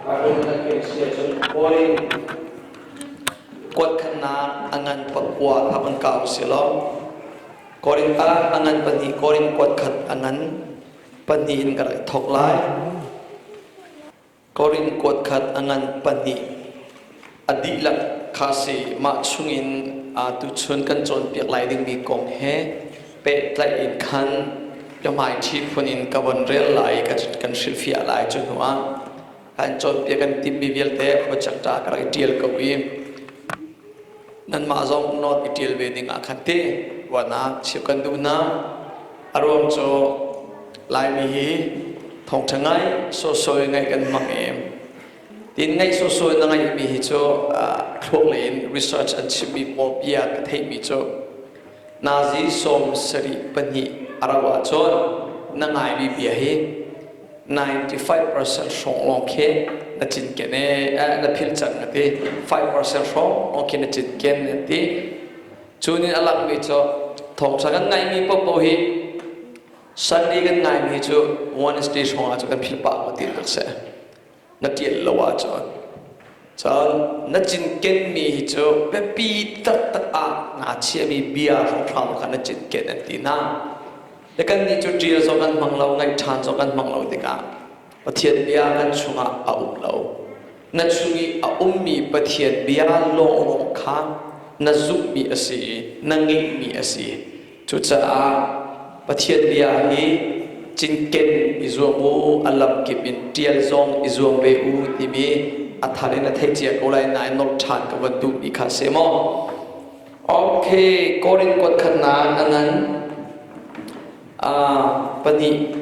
Baibal na pek si ahcun hawi kuat khatnak a ngan pakua kha van kah u si law Korinth ah a ngan pahnih Korinth kuat khat a ngan pahnih in ka rak thawk lai Korinth kuat khat a ngan pahnih A dihlak kha a si. Mah chungin tuchun kan cawnpiak lai dingmi kong he pehtlaih in khan biahmaiṭhi phun in ka von rel lai i kan hrilhfiah lai. Cu hnuah kan cawnpiak kan timhmi vialte khuachak ṭa ka rak i ṭial ko i nanmah zong nawn i ṭial ve dingah khan ti ruahnak chim kan duh hna. A ruang cu Laimi hi thawngṭha ngai sawhsawh in ngaih kan hmang i Tin ngeih sawhsawh in a ngeimi hi cu thluaklei in research an chimmi pawl bia ka theihmi cu Nazi sawm sarih pahnih a rauh ahcun na ngaimi bia hi 95% hrawng lawng khi na cinken ee na philh cang a ti 5% hrawng lawng khi na cinken a ti cu nih a lakmi cu thawngṭha kan ngaimi popo hi Sunday kan ngaimi cu Wednesday hrawngah cu kan philh pah ko ti tuk seh na ṭial lo ahcun cun na cinkenmi hi cu biapi taktak ah nga chiahmi bia hramhram kha na cinken an ti hna le kannih cu ṭial zong an hmang lo ngaih ṭhan zong an hmang lo tikah Pathian bia kan chungah a um lo na chung i a ummi Pathian bia lawnglawng kha na zumhmi a si i na ngeihmi a si Cucaah Pathian bia hi cinken i zuam u, a lamkip in ṭial zong i zuam ve u timi a thar in a thei cia ko lai nain nawlh ṭhan ka van duhmi kha a si maw? Ok, Korin khuatkhatnak a nan uh, pahnih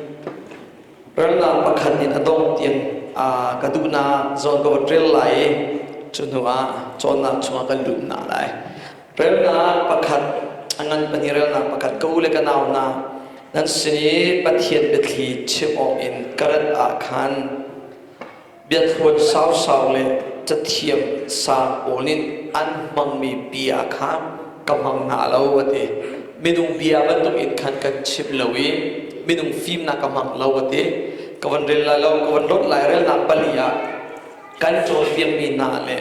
relnak pakhat in a dongh tiang uh, ka duhnak zawn ka va rel lai i cu hnuah cawnnak chungah kan lut na lai. Relnak pakhat a ngan pahnih relnak pakhat ka u le ka nau hna nan sin i Pathian biathli chim awk in ka rat ah khan biathluan sausau le cathiam sang pawl nih an hmangmi pi ah khan ka hmang hna lo a ti minung bia bantuk in khan kan chim lo i minung fimnak ka hmang lo a ti ka van rel lai lo ka van lonh lai relnak pali ah kan cawnpiakmi hna le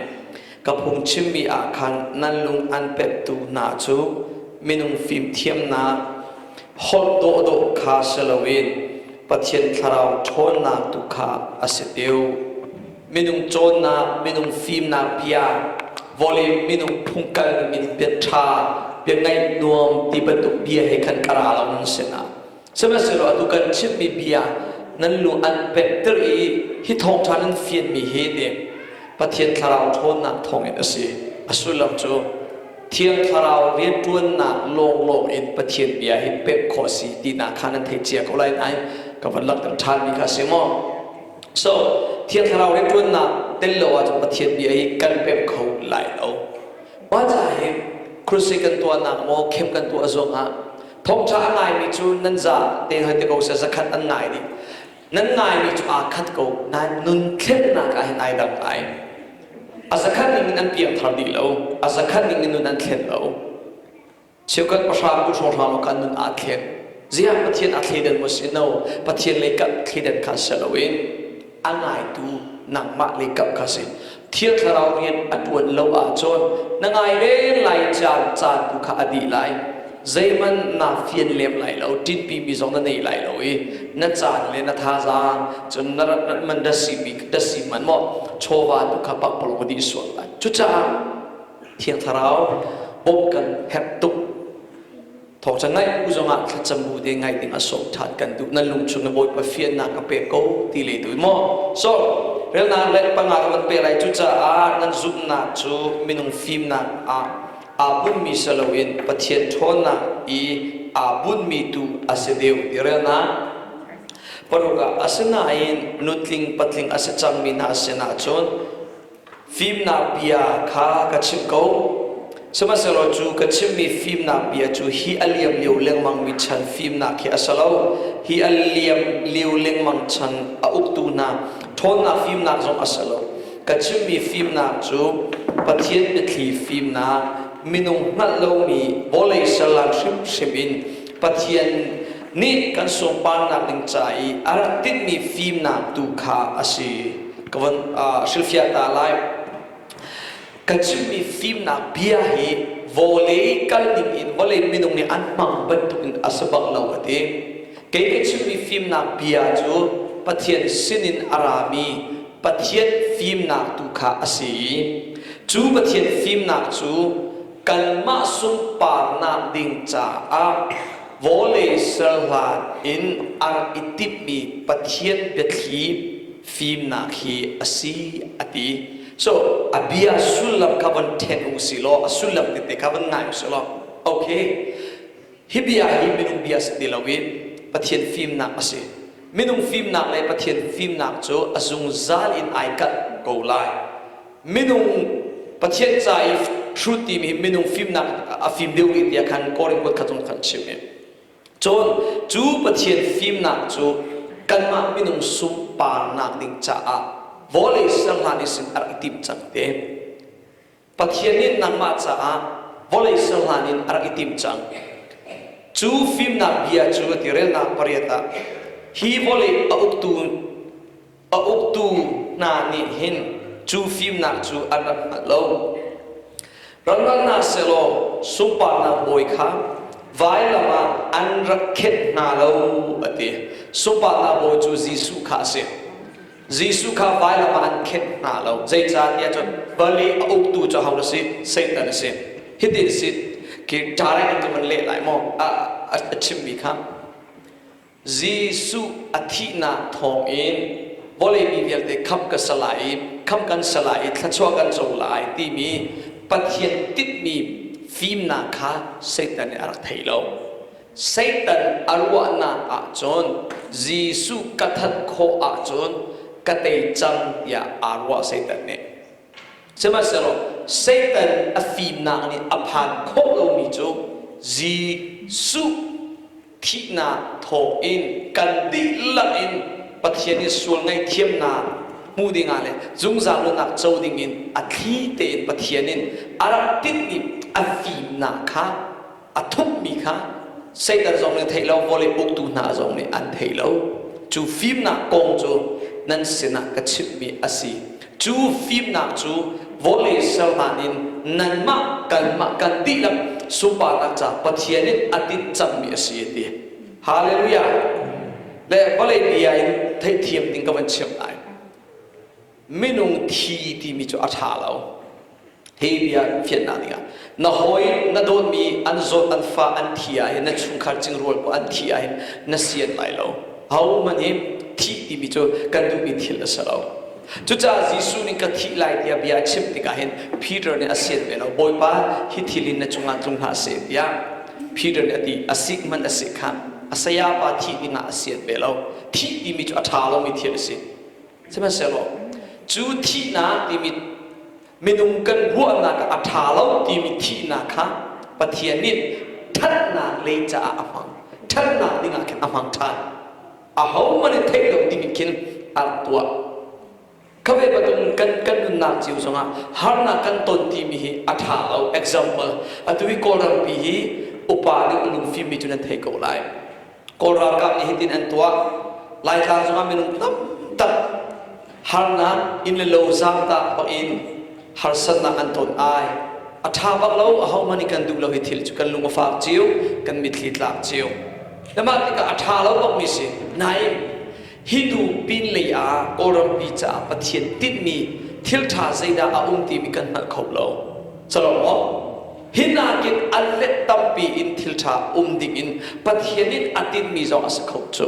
Ka phungchimmi ah khan nan lung an pemhtu hna cu minung fimthiamnak holh dawhdawh kha si loin Pathian thlarau ṭhawnnak tu kha a si deuh. Minung cawnnak, minung fimnak bia, vawlei minung phungkal, min bia ṭha, bia ngaih nuam ti bantuk bia he khan ka ra lo nan sinah Sihmanhsehlaw atu kan chimmi bia nan lu an penhter i hi thawngṭha nan fianmi hi nih Pathian thlarau ṭhawnnak thawngin a si, a sullam cu Thiang Thlarau rianṭuannak lawnglawng in Pathian bia hi pek khawh a si tinak kha nan thei cia ko lai nain ka vun langhter ṭhanmi kha a si maw? So, Thiang Thlarau rianṭuannak tel lo ahcun Pathian bia hi kan pek kho lai lo. Mah ca hi kruse kan tuahnak maw, khem kan tuah zongah Thawngṭha a ngaimi cu nan za te hoi ti ko seh, zakhat an ngai dih. Nan ngaimi cu aa khat ko nain nun thlennak ah hin ai dang ngai. A zakhat ningin an piangthar dih lo, a zakhat ningin nun an thlen lo. Cheukat pahra bu hrawhhram ah khan nun aa thlen. Ziah Pathian aa thleidan maw si no? Pathian lei kah thleidan kha si loin A ngaitu nangmah le ka ka si. Thiang Thlarau rian a ṭuan lo ahcun na ngai reng lai, caan caan tu kha a dih lai. Zeihmanh naa fian lem lai lo, ṭinhpimi zong na nei lai lo i na caan le na thazaang, cun na rat man da si hmanh maw chawva tu kha pakpalawng a dih sual lai. Cucaah Thiang Thlarau bawmh kan herh tuk. Thawngṭha ngaih bu zongah thlacam bu te ngaih ding a sawm ṭhan kan duh. Nan lungchung le Bawipa fiannak ka pek ko ti le duh maw? Sawm, relnak le panga rak kan pek lai. Cucaah nan zumhnak cu minung fimnak ah aa bunhmi si loin Pathian ṭhawnnak i aa bunhmi tu a si deuh ti relnak paruk ah. Asinain nutling patling a si cangmi hna sinah cun Fimnak bia kha ka chimh ko. Sihmanhsehlaw cu ka chimmi fimnak bia cu hi a liam lio lengmangmi chan fimnak khi a si lo. Hi a liam lio lengmang chan a uktu hna ṭhawnnak fimnak zong a si lo. Ka chimmi fimnak cu Pathian biathli fimnak, minung hngalh lomi vawlei ser lan hrimhrim in Pathian nih kan sunparnak ding ca i a rak tinhmi fimnak tu kha a si ka von hrilhfiah ta lai kan chimmi fimnak bia hi vawlei kal ning in vawlei minung nih an hmang bantukin a si bang lo ka ti kei ka chimmi fimnak bia cu pathian sinin a rami pathian fimnak tu kha a si i cu pathian fimnak cu kanmah sunparnak ding caah vawlei ser hlan in ar i timhmi Pathian biathli fimnak hi a si a ti. So, a bia sullam kha van ṭhen u si law, a sullam tete kha van ngai u si law, okay. Hi bia hi minung bia si ti loin Pathian fimnak a si. Minung fimnak le Pathian fimnak cu a zungzal in ai kalh ko lai. minung Pathian ca i hrut timi hi minung fimnak a fim deuh rih tiah khan Korin kut kha cung khan chim i cun cu Pathian fimnak cu kanmah minung sunparnak ding caah vawlei serhlan i sin a rak i timh cang te Pathian nih nangmah caah vawlei serhlan in a rak i timh cang cu fimnak bia cu a tirelnak pariat ah hi vawlei a uktu a uktu hna nih hin cu fimnak cu an rak hngalh lo. Rak ralhnak sehlaw sunparnak bawi kha vailam ah an rak khenh hna lo a ti. Sunparnak bawi cu Jesuh kha a si. Jesuh kha vailam ah an khenh hna lo. Zeicahtiah cun vali a uktu cu ho a si? Satan a si. Hitin a si, khi direct in ka van leh lai maw? A chimmi kha. Jesuh a thihnak thawng in vawlei mi vialte khamh ka sa lai i khamh kan sa lai i thluachuah kan co lai timi Pathian tinhmi fimnak kha Satan nih a rak thei lo. Satan a ruahnak ahcun Jesuh ka that khawh ahcun ka tei cang tiah aa ruah Satan nih. Sihmanhsehlaw Satan a fimnak nih a phan khawh lomi cu Jesuh thihnak thawh in kan dihlak in Pathian i sual ngaihthiamnak hmuh ding ah le zungzal lonak co ding in a thli tein Pathian in a rak tinhmi a fimnak kha a thupmi kha Satan zong nih theih lo vawlei uktu hna zong nih an theih lo cu fimnak kong cu nan sinah ka chimhmi a si Cu fimnak cu vawlei serhlan in nanmah kanmah kan dihlak sunparnak ca Pathian in a tinh cangmi a si a ti. Hallelujah! Le vawlei bia in theihthiam ding ka van chimh lai. Minung thi timi cu a ṭha lo. Hi bia in fianhnak ding ah, na hawi na dawtmi an zawt an fa an thi ahhin na chungkhar cingrual paoh an thih ahhin na sian lai lo. Ahohmanh hi thih timi cu kan duhmi thil a si lo. Cucaah Jesuh nih ka thih lai tiah bia a chimh tikah hin Peter nih a sian ve lo, Bawipa, hi thil hi na cungah tlung hlah seh tiah Peter nih a ti. A sik hmanh a sik khah, a sayapa thih dingah a sian ve lo. Thih timi cu a ṭha lomi thil a si. Sihmanhsehlaw cu thihnak timi minung kan ruahnak a ṭha lo timi thihnak kha Pathian nih ṭhatnak lei caah a hmang, ṭhatnak dingah khin a hmang ṭhan. Ahohmanh nih theih lo dingin khin a rak tuah. Khavei patung kan kan nunnak cio zongah harnak kan ton timi hi a ṭha lo. Example, atu i Kawlrampi hi upa nih a lungfimmi cu nan thei ko lai. Kawl ralkap nih hitin an tuah, Laitlang zongah minung tamtak harnak inn le lo zaangtah bak in harsatnak an ton ai. A ṭha bak lo, ahohmanh nih kan duh lo hi thil cu kan lung a fak cio, kan mitthli tlak cio. Na mah tikah a ṭha lo bakmi si, nain hi hnu pinlei ah Kawlrampi caah Pathian tinhmi thil ṭha zeidah a um timi kan hngalh kho lo. Calawng maw? Hi nakin a let tampi in thilṭha um dingin Pathian in a tinmi zong a si kho cu.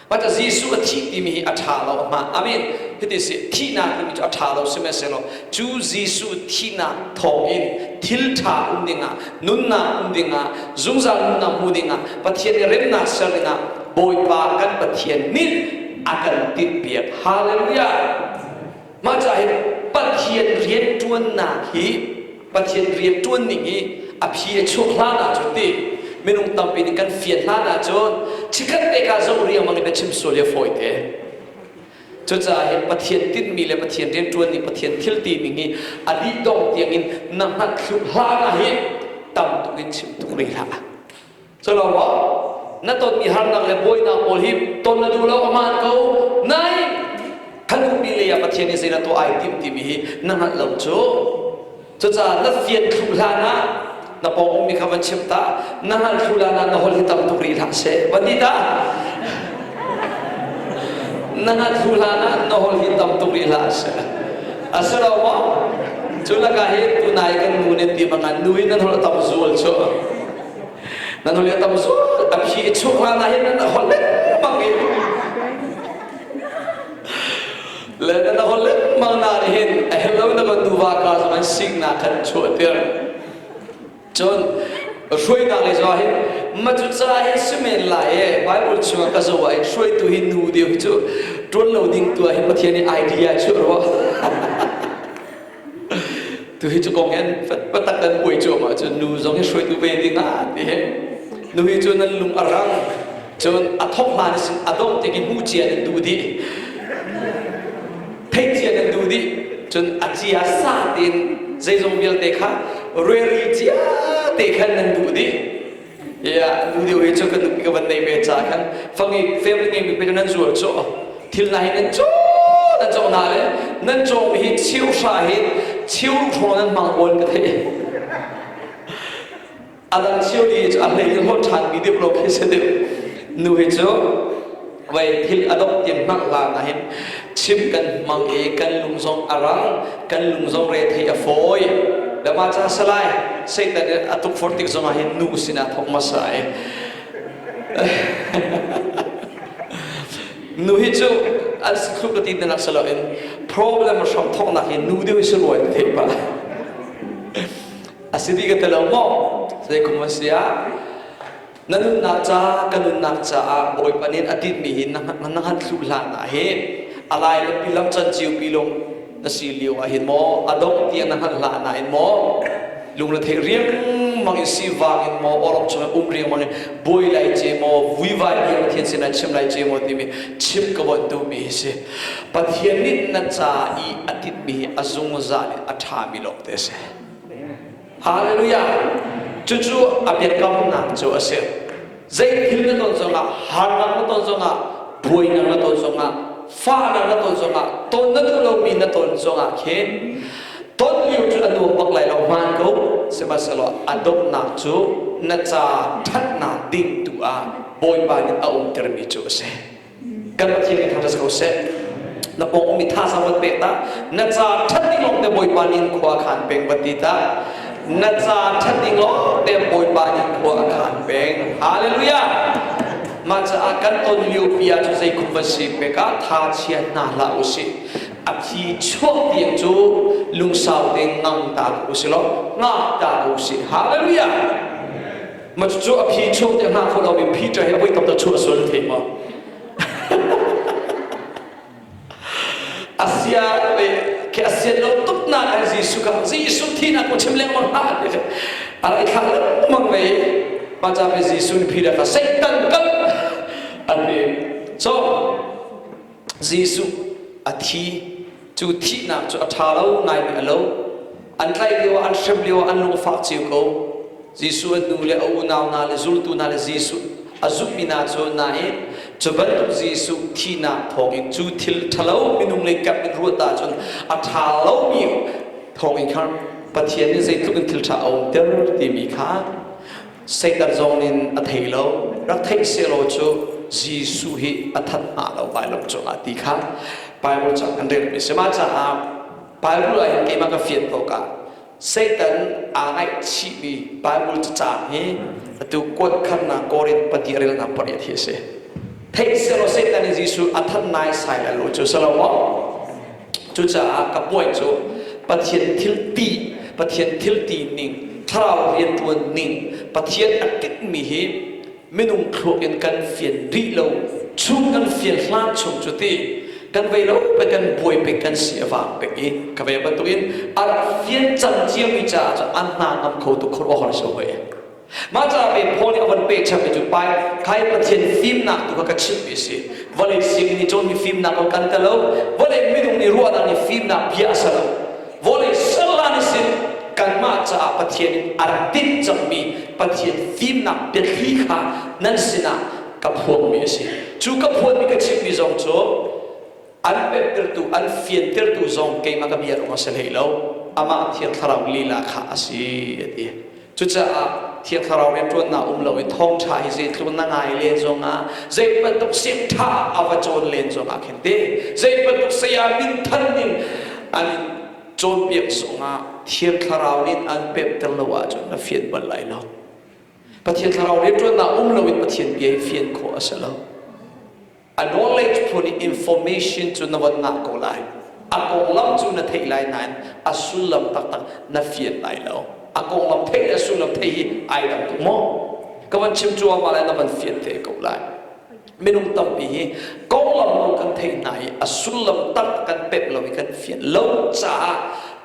But Jesuh a thih timi hi a ṭha lo hnga. Amen. Hiti si, thihnak timi cu a ṭha lo sihmanhsehlaw, cu Jesuh thihnak thawngin thilṭha um dingah, nunnak um dingah, zungzal nunnak hmu dingah, Pathian i remnak ser dingah Bawipa kan Pathian nih a kan timhpiak. Hallelujah! Mah ca hi Pathian rianṭuannak hi Pathian rianṭuan ning i a phi a chuah hlan ahcun ti minung tampi nih kan fian hlan ahcun chikkhat pek ah zoh riangmang in biachim sual hi a fawite. Cucaah hi Pathian tinhmi le Pathian rianṭuan ning, Pathian thil tining hi a dih dong tiangin na hngalh hlan ah hi tam tuk in chim tuk ve hlah. Culo na tonmi harnak le buainak pawl hi ton na duh lo a man ko nai kan ummi lei ah Pathian nih zeidah tuah ai timh timi hi na hngalh lo cu cucaah na fian thlu hlan ah na pawng ummi kha van chim ta na hngalh thlu hlan ah na hol hi tam tuk rih hlah se va ti ta na hngalh thlu hlan ah na hol hi tam tuk rih hlah se a si lo maw cu lakah hi tunai kan nu nih ti mangan nu in nan hol tam zual cu nan holi tam zual an hi chuk nga na hin nan hol lengmang i le nan hol lengmang na ri hin hello na man duwa ka man sing na kan chuah tir cun hrui na le zuwa hin maju ca hi simen la e bible chung ka zo wa in hrui tu hi nu de chu tun lo ding tua hi pathian ni idea chu ro tuhi cu kong hin patak kan puai cuam ahcun nu zong hi hruaitu ve ding ah ti he nu hi cu nan lung a rang cun a thok hlan sin a dongh ti ki hmu cia nan duh dih thei cia nan duh dih cun a cia sa tin zeizong vialte kha rueri cia te khan nan duh dih Yeah, nu deu hi cu kan ka van nei ve ca khan fangi family ngeimi pe nan zual cu thil na hi nan co nan co na le nan co hi chiu hra hi chiu hro nan mang bon ka thei adang chiu di a hlei ho than mi deuh lo khi se deuh nu hi cu Vei thil a dongh tiang hnangh hlan ah hin chim kan hmang i kan lung zong a rang, kan lung zong re thei a fawi. Dama ca salai, Satan in a tukforh tik zongah hin nu sinah thok masa i nu hi cu an sikhluk ka ti nak si loin problem hram thoknak hi nu deuh si ruai te pa asidi ka telo mo sai kuma sia Na nunnak ca ka nunnak caah Bawipa nih a dinmi hi na han thlu hlan ah hi a lai le pi lam can cio pi lung na si lio ah hin maw a dongh tiah na hngalh hlan ah hin maw lungrethei riangmang in si vang in maw awrok chung um riangmang in buai lai ce maw vuivai riang pathian sin an chim lai ce maw timi chim ka wan tu mi hi si pathian nih na ca i a titmi hi a zungzal in a ṭhami lawng te si Hallelujah! Cucu a biakamnak cu a si. Zeithil na ton zongah, harnak na ton zongah, buainak na ton zongah, fahnak na ton zongah, ton na duh lomi na ton zongah khin ton lio cu a nuam bak lai lo hmaan ko, sihmanhsehlaw a donghnak cu na ca ṭhatnak ding tu ah Bawipa nih a umtermi cu a si. kan Pathian i tha ko seh na pawng mi thazang wat pek ta na ca that ding long te bawipa nin khua khan peng wat ti ta na ca that ding long te bawipa nin khua khan peng hallelujah ma ca a kan ton mio pia cu zei kum va si pe ka tha chia na la u si a phi chuak ti cu lungsau ding ngam ta u si lo nga ta u si hallelujah Ma cucu a phi cheu te hna kho lo in phi ṭa he voi tam ta chuah sual thei ma. asia ke asia lo tuk na kan Jesu ka Jesu thi na ku chim le ma ha ni ara thang le mang ve ma cha ve Jesu ni phi da ka Satan kan ani so Jesuh a thi. Cu thihnak cu a ṭha lo ngaimi a lo. An tlaih lioah an hrem lioah an lungfah cio ko. Jesuh a hnu le a unau hna le zultu hna le Jesuh a zumhmi hna cu nain cu bantuk Jesuh thihnak thawngin cu thil ṭhalo minung lei kap in ruat ahcun a ṭha lomi thawngin khan Pathian nih zeitluk in thil ṭha a umter timi kha Satan zong in a thei lo. Rak theih sehlaw cu Jesuh hi a that hnga lo Baibal cungah ti kha Baibal cang an relmi a si. Mah caah Baibal ah hin keimah ka fian awkah Satan aa ngaihchihmi Baibal cacang hi atu kuatkharnak Korinth pahnih relnak pariat hi a si. Theih sehlaw Satan nih Jesuh a that naisai lai lo cu si lo maw? Cucaah ka puai cu Pathian thilti, Pathian thilti ning, thlarau riantuan ning, Pathian a kekmi hi minung thluak in kan fian rih lo chung kan fian hlan chung cu ti kan vei lo pek kan buai pek kan si a vang pek i ka ve bantukin ar fian cang ciami caah an hna ngam kho tuk khor awhor si hoi Mah caah kei Paul nih a von pehchangmi cu pai khai Pathian fimnak tu kha ka chimhmi a si. Vawlei sianginn i cawnmi fimnak kha kan tel lo. Vawlei minung nih ruahnak nih fimnak bia a ser lo. Vawlei sernak nih sin kanmah caah Pathian in a rak tinh cangmi Pathian fimnak biathli kha nan sinah ka phuangmi a si. Cu ka phuanmi ka chimhmi zong cu an pemhtertu, an fiantertu zong keimah ka bia ruang a si hlei lo, amah Thiang Thlarau lila kha a si, a ti. Cucaah Thiang Thlarau rianṭuannak um lo i thawngṭha hi zeitluk na ngai len zongah, zei bantuk sinṭha a va cawn len zongah khin teh, zei bantuk saya minthan ning an in cawnpiak zongah Thiang Thlarau nih an pemhter lo ahcun na fian bal lai lo. Pathian Thlarau rianṭuannak um loin Pathian bia hi fian khawh a si lo. A knowledge phun i information cu na von ngah ko lai. A konglam cu na theih lai nain a sullam taktak na fian lai lo. A konglam theih le a sullam theih hi ai dang tuk maw? Ka van chim cuahmah le na van fian ve ko lai. Minung tampi hi konglam rul kan theih hna i a sullam taktak kan pemh lo i kan fian lo caah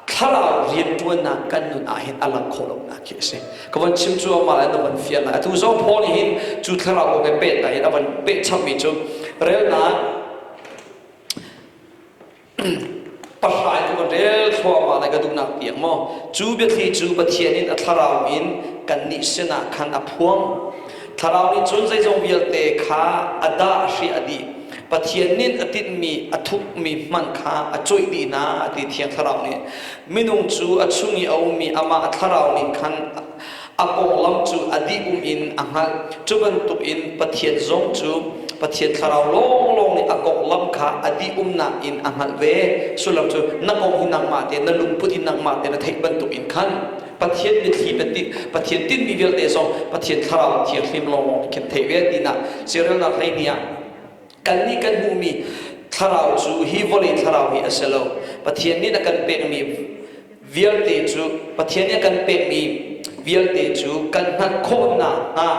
thlarau rianṭuannak kan nun ahhin a lang khawh lonak khi a si. ka van chim cu amah in a van fiah hna atu zong Paul hi cu thlarau kong he peh hna in a van peh changmi cu relnak pahrai tu kan rel thluahmah lai ka duhnak piak maw cu biathli cu Pathian in a thlarau in kan nih sinah khan a phuang thlarau nih cun zeizong vialte kha a dah hri a dih Pathian nin a tinhmi a thukmi hmanh kha a cuih dihna ti thiang thlarau nih Minung cu a chung i a ummi amah a thlarau nih khan a konglam cu a dih-um in a hngalh, cu bantukin Pathian zong cu Pathian thlarau lawnglawng nih a konglam kha a dih-umnak in a hngalh ve, sullam cu na kong hi nangmah tein, na lungput i nangmah tein na theih bantukin khan Pathian mitthli na tinh, Pathian tinhmi vialte zong Pathian thlarau thianghlim lawnglawng nih khin theih ve, tinak siarelnak hleihnih ah Kannih kan hmuhmi thlarau cu hi vawlei thlarau hi a si lo. Pathian nih a kan pekmi vialte cu Pathian nih a kan pekmi vialte cu kan hngalh khawh nakhnga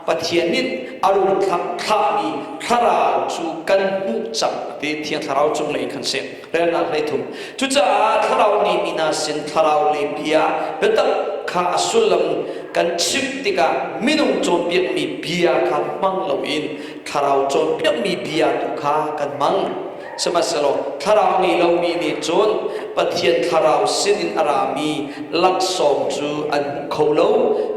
Pathian nih a run thlahmi thlarau cu kan hmuh cang ti thiang thlarau cunglei khan si relnak hleithum. Cucaah thlarau ngeimi hna sin thlarau lei bia biatak kha a sullam kan chimh tikah minung cawnpiakmi bia kha hmang loin Thlarau cawnpiakmi bia tu kha kan hmang. Sihmanhsehlaw thlarau ngei lomi nih cun Pathian thlarau sinin a rami laksawng cu an hmu kho lo,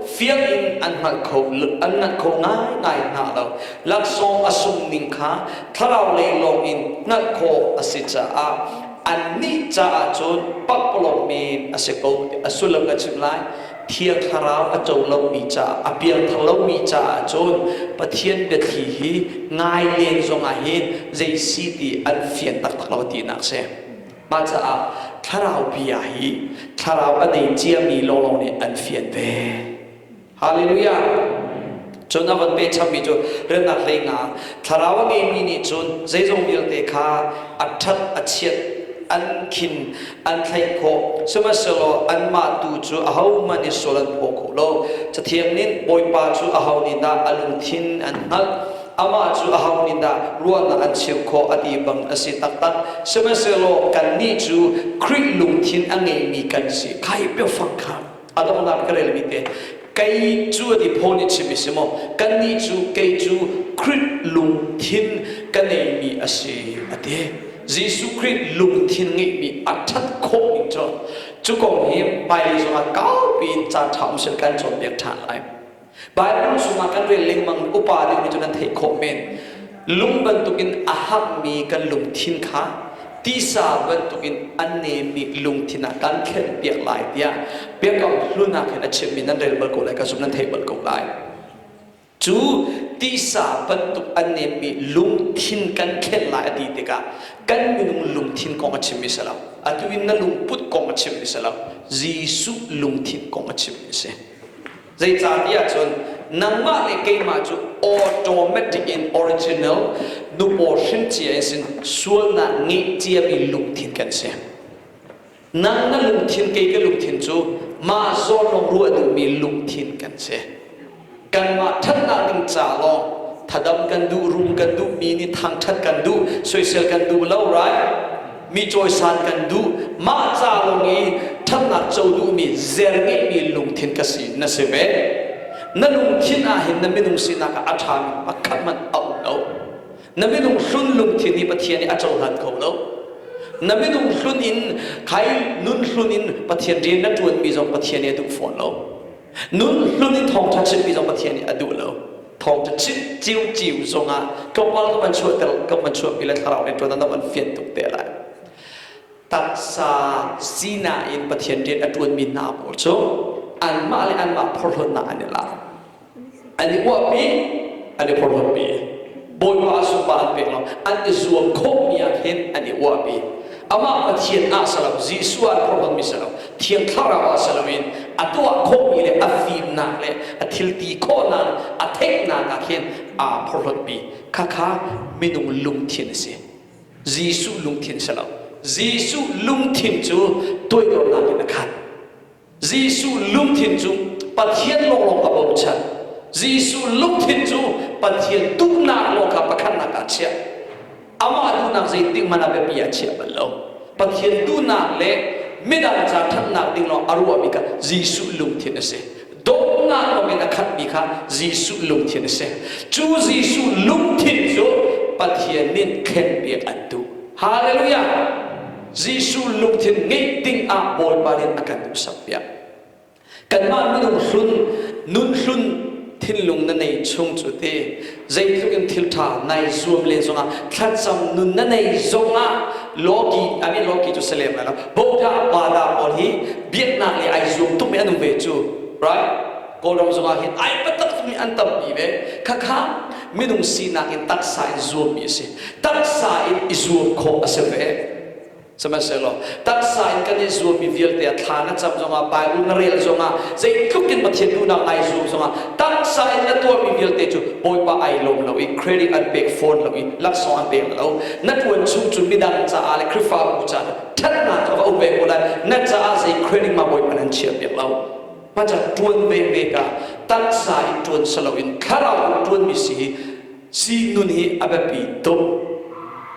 fiang in an hngalh kho, an nganh kho ngaingai hna lo. Laksawng a sung ning kha thlarau lei lawngin hngalh khawh a si caah annih caah cun pakpalawng men a si ko tiah a sullam ka chim lai. Thiang Thlarau a co lomi caah, a piangthar lomi caah cun Pathian biathli hi ngai len zongah hin zei si ti an fian taktak lo tinak a si. Mah caah Thlarau bia hi Thlarau a nei ciami lawnglawng nih an fian ve. Hallelujah! Cun a von pehchapmi cu Remnak hlei hna, thlarau a ngeimi nih cun zeizong vialte kha a ṭhat, a chiat, an khin, an thlaih khawh, sihmanhsehlaw anmah tu cu ahohmanh nih sual an phaw kho lo. Cathiang nih, Bawipa cu aho nih dah a lungthin an hngalh? Amah cu aho nih dah ruahnak an cheuh khawh a ti bang a si taktak. Sihmanhsehlaw kannih cu Khrih lungthin a ngeimi kan si, kai biafang kha a donghnak ka relmi te kei cu ni Paul nih chim a si maw kannih cu kei cu Krit lungthin ka neimi a si a ti Jesuh Krit lungthin ngeihmi a ṭhat khawh ning cu cu kong hi hmailei zongah kaupi in caanṭha um seh kan cawnpiak ṭhan lai Baibal chungah kan rel lengmang upa nih cu kan theih khawh men. Lung bantukin a hangmi kan lungthin kha tisa bantukin a nemmi lungthin ah kan thlenpiak lai tiah biakam hlun ah khin a chimmi nan rel bal ko lai ka zumh nan theih bal ko lai. Cu tisa bantuk a nemmi lungthin kan thlen lai a ti tikah kan minung lungthin kong a chimmi si lo. Atu in na lungput kong a chimmi si lo. Jesuh lungthin kong a chimmi a si. Zeicahtiah cun nangmah le keimah cu automatic in original nupaw hrincia in sin sualnak ngeih ciami lungthin kan si. Nang na lungthin, kei ka lungthin cu mah zawnrong ruah duhmi lungthin kan si. Kanmah ṭhatnak ding ca lawng thadam kan duh, rum kan duh, mi nih thangṭhat kan duh, soisel kan duh lo, right? mi cawisan kan duh mah ca lawng i ṭhatnak co duhmi zer ngeihmi lungthin ka si na si ve na lungthin ahhin na minung sinak ah a ṭhami pakhat hmanh a um lo na minung hlun lungthin hi Pathian nih a cohlan kho lo na minung hlun in khai nun hlun in Pathian rian na ṭuanmi zong Pathian nih a duh fawn lo Nunhlun in thawngṭha chimmi zong Pathian nih a duh lo. Thawngṭha chim ciuciu zongah tlawmpal ka van chuahter, ka van chuahpi le thlarau rianṭuan ah na van fian tuk te lai. Taksa sinak in Pathian rian a ṭuanmi hna pawl cu anmah le anmah porhlawtnak an i lak. an i uahpi an i horhorpi bawipa zumba an pek lo an i zuam khawhmi ah hin an i uahpi amah pathian ah salam jesuh ah horhormi salam thiang thlarau ah salam in a tuah khawhmi le a fimnak le a thilti khawhnak le a theihnak ah hin aa phorhlotpi khakha minung lungthin a si jesuh lungthin salam jesuh lungthin cu toidornak in a khat Jesuh lungthin cu Pathian lawnglawng kha bochan. Jesuh lungthin cu Pathian duhnak lawng kha pakhatnak ah chiah. Amah duhnak zeitik hmanh ah biapi ah chiah bal lo. Pathian duhnak le midang ca ṭhatnak ding lawng a ruahmi kha Jesuh lungthin a si. Dawtnak bang in a khatmi kha Jesuh lungthin a si. Cu Jesuh lungthin cu Pathian nih thlenpiak an duh. Halleluijah! Jesuh lungthin ngeih dingah Bawipa nih a kan duhsakpiak. Kanmah minung hlun, nunhlun thinlung na nei chung cu ti zeitluk in thiltha nai zuam len zongah, thlacam nun na nei zongah Lawki, a nih Lawki cu sa lem lai lo, Bawipa a Pala pawl hi biaknak nih ai zuam tuk mi an um ve cu, right? Kawlram zongah hin ai biatak tuk mi an tampi ve. Khakha minung sinak in taksa in zuammi a si taksa in i zuam khawh a si ve sihmanhsehlaw taksa in kan i zuammi vialte ah thla na cam zongah baibal na rel zongah zeitluk in Pathian duhnak ngai zuam zongah taksa in na tuahmi vialte cu bawipa ai lawm lo i credit an pek fawn lo i laksawng an pek lo na ṭuan chung cun midang caah le Khrihfabu caah ṭhatnak kha va um ve ko lai na caah zei credit ma bawipa nan chiah piak lo Pacat ṭuan menmek ah taksa in ṭuan si loin thlarau in ṭuanmi si hi sii nun hi a biapi tuk.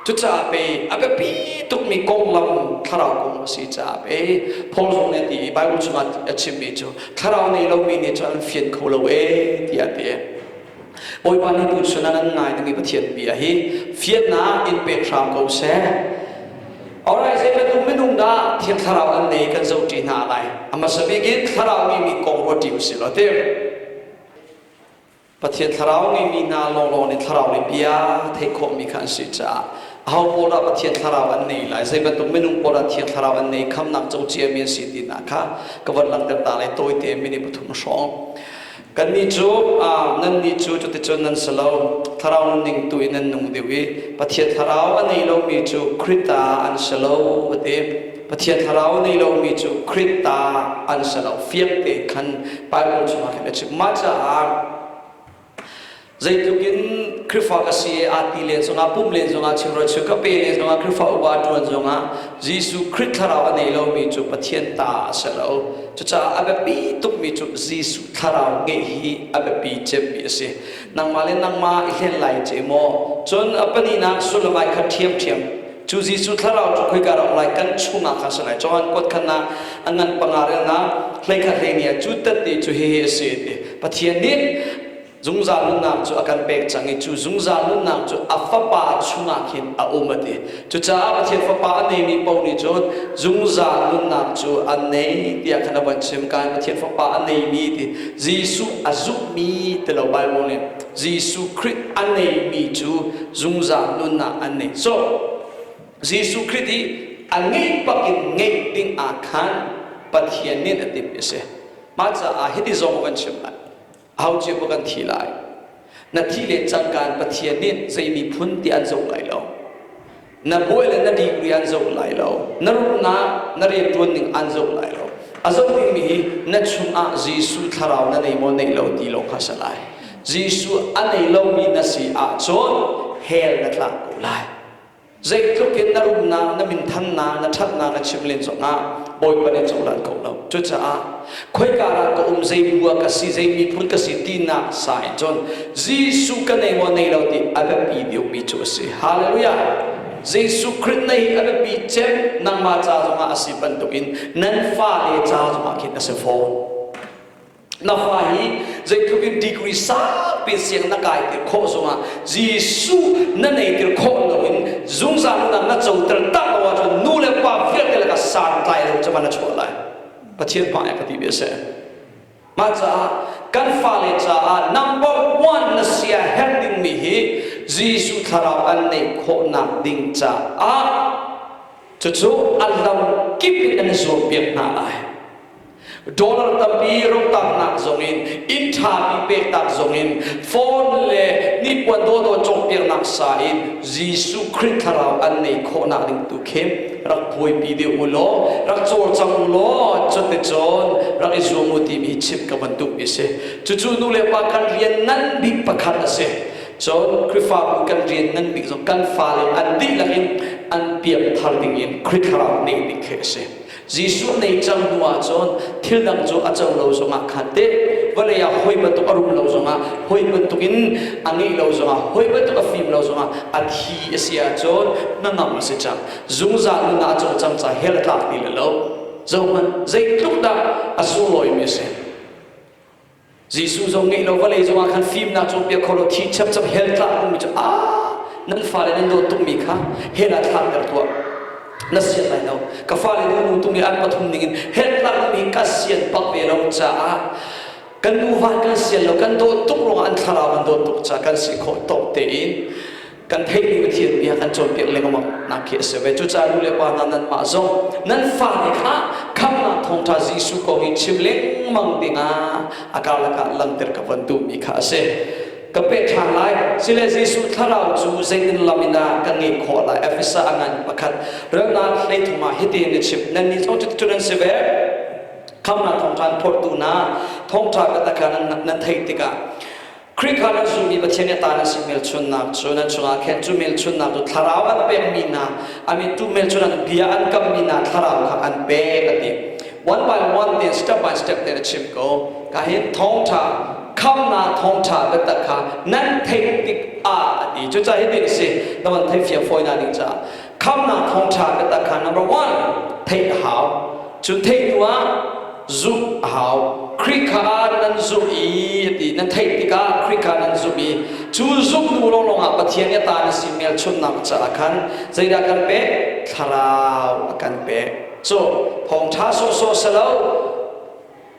Cucaah pei a biapi tukmi konglam thlarau kong a si caah pei Paul zong nih a ti i Baibal chung ah a chimmi cu thlarau nei lomi nih cun an fian kho lo ee tiah a ti. Bawipa nih tuchun ah nan ngai dingmi Pathian bia hi fiannak in pek hram ko seh. Alright, zeibantuk minung dah Thiang Thlarau an nei kan zoh ṭi hna lai. A hmasa bik in Thlarau ngeimi kong ruat ṭi usih law tim. Pathian Thlarau ngeimi hna lawnglawng nih Thlarau lei bia theih khawhmi kha an si caah aho pawl dah Pathian Thlarau an nei lai, zeibantuk minung pawl dah Thiang Thlarau an nei, khamnak co ciami an si ti hna kha ka von langhter ta lai. Tawite minute pathum hrawng. Kannih cu nannih cu cuticun nan si lo, Thlarau nunning tu in nan nung deuh i Pathian Thlarau a nei lomi cu Krit ta an si lo, a ti. Pathian Thlarau a nei lomi cu Krit ta an si lo, fiang tein khan Baibal chungah khin a chim. Mah caah Zeitluk in Khrihfa ka si aa ti len zongah, pum len zongah, chimrawi chim ka pe len zongah, Khrihfa upa ṭuan zongah Jesuh Khrih thlarau a nei lomi cu Pathian ta a si lo. Cucaah a biapi tukmi cu Jesuh thlarau ngeih hi a biapi cemmi a si. Nangmah le nangmah i hlen lai ceh maw? Cun a pahnihnak sullamai kha ṭhiamṭhiam. Cu Jesuh thlarau cu khoika ram lai kan chungah khan a si lai? Johan kuat khatnak a ngan panga relnak hlei khat hlei nih a cu tat i cu hihi a si a ti, Pathian nih Zungzal nunnak cu a kan pek cang i cu zungzal nunnak cu a Fapa chungah khin a um a ti. Cucaah Pathian Fapa a neimi paoh nih cun zungzal nunnak cu an nei tiah khan a van chim. Ka in Pathian Fapa a neimi ti Jesuh a zumhmi ti lo Baibal nih Jesuh Khrih a neimi cu zungzal nunnak an nei cawk. Jesuh Khrih hi a ngeih bak in ngeih dingah khan Pathian nih a timhmi a si. Mah caah hiti zong a van chim lai. Ho cio kan thi lai. Na thi len cangka in Pathian nih zei miphun ti an zoh lai lo. Na buai le na degree an zoh lai lo. Na rumnak, na rianṭuan ning an zoh lai lo. A zoh dingmi hi na chungah Jesuh thlarau na nei maw nei lo ti lawng kha a si lai. Jesuh a nei lomi na si ahcun hell na tlak ko lai. Zeitluk in na umnak, na minthannak, na ṭhatnak na chim len zongah Bawipa nih a cohlan kho lo. Cucaah khoika ral ka um, zei bua ka si, zei miphun ka si tinak sa in cun Jesuh ka nei maw nei lo ti a biapi deuhmi cu a si. Halleluijah! Jesuh Khrih nei hi a biapi cem, nangmah ca zongah a si bantukin nan fale ca zongah khin a si fawn. Na fa hi zeitluk in degree saupi siang na kaitir khawh zongah Jesuh na neitir khawh loin zungzal nunah na coter tak lo ahcun nu le pa vialte lakah santlai lo cu na chuah lai. Pathian hmai ah ka ti ve seh. Mah caah kan fale caah number one na sia herh dingmi hi Jesuh thlarau kan neih khawhnak ding caah cucu a lamkip in an i zuampiak hna lai. Dollar tampi rotaaknak zongin inn ṭhami pektak zongin phone le hnipuan dawhdawh cawhpiaknak sa in Jesuh Khrih thlarau an ngeih khawhnak ding tu khi rak buaipi deuh u law rak cawlcang u law cuticun rak i zuam u timi chimh ka bantuk i si. Cucu nulepa kan rian ngan bik pakhat a si. Cun Khrihfabu kan rian ngan bik zong kan fale an dihlak in an pianthar dingin Khrih thlarau ngeih ding khi a si. Jesuh nei cang hnu ahcun thil dang cu a cang lo zongah khan teh, vawlei ah hawi bantuk a rum lo zongah hawi bantukin a ngeih lo zongah, hawi bantuk a fim lo zongah a thi a si ahcun hnangam a si cang. Zungzal nunah a cawlcang ca he a tlak ti le lo. Zohhmanh, zeitluk dah a sunglawi mi a si! Jesuh zong ngeih lo vawlei zongah khan fimnak cawnpiak khawh law thi chapchap hell tlak ummi cu a nan fale nan dawt tungmi kha hell ah thlakter tuah na sian lai lo ka fale nu nu tung i an pathum ningin hell tlak ummi ka sian bak ve lo caah kan nu van kan sian lo kan dawt tuk ruangah an thlarau an dawt tuk caah kan si khawh tawk tein kan theihmi Pathian bia kan cawnpiak lengmang nak khi a si ve cucaah nu le pa hna nanmah zong nan fa nih kha khamhnak thawngṭha Jesuh ko hi chim lengmang dingah a karlak ah langhter ka von duhmi kha a si ka peh ṭhan lai sile Jesuh thlarau cu zeitin lam in dah kan ngeih khawh lai Efesa a ngan pakhat relnak hlei thum ah hitin a chim nannih thawng cu an si ve khamhnak thawngṭha an phortu hna thawngṭha ka takah nan theih tikah Khrih kha rak zummi Pathian nih a ta an si hmelchunhnak cu nan chungah khan cu hmelchunhnak cu thlarau an pekmi hna I mean tu hmelchunhnak bia an kammi hna thlarau kha an pek an ti one by one te step by step te a chim ko ka hin thawngtha khamnak thawngtha biatak kha nan theih tik ah a ti cuca hitin a si na van thei fia fawi na ding caah khamnak thawngṭha biatak kha number one theih a hau cun theih hnu ah zumh a hau Khrih kha nan zumh i ti nan theih tikah Khrih kha nan zumh i cu zumhnu lawnglawng ah Pathian nih ta na si melchunhnak caah khan zeidah kan pek thlarau a kan pek so thawngṭha sawhsawh si lo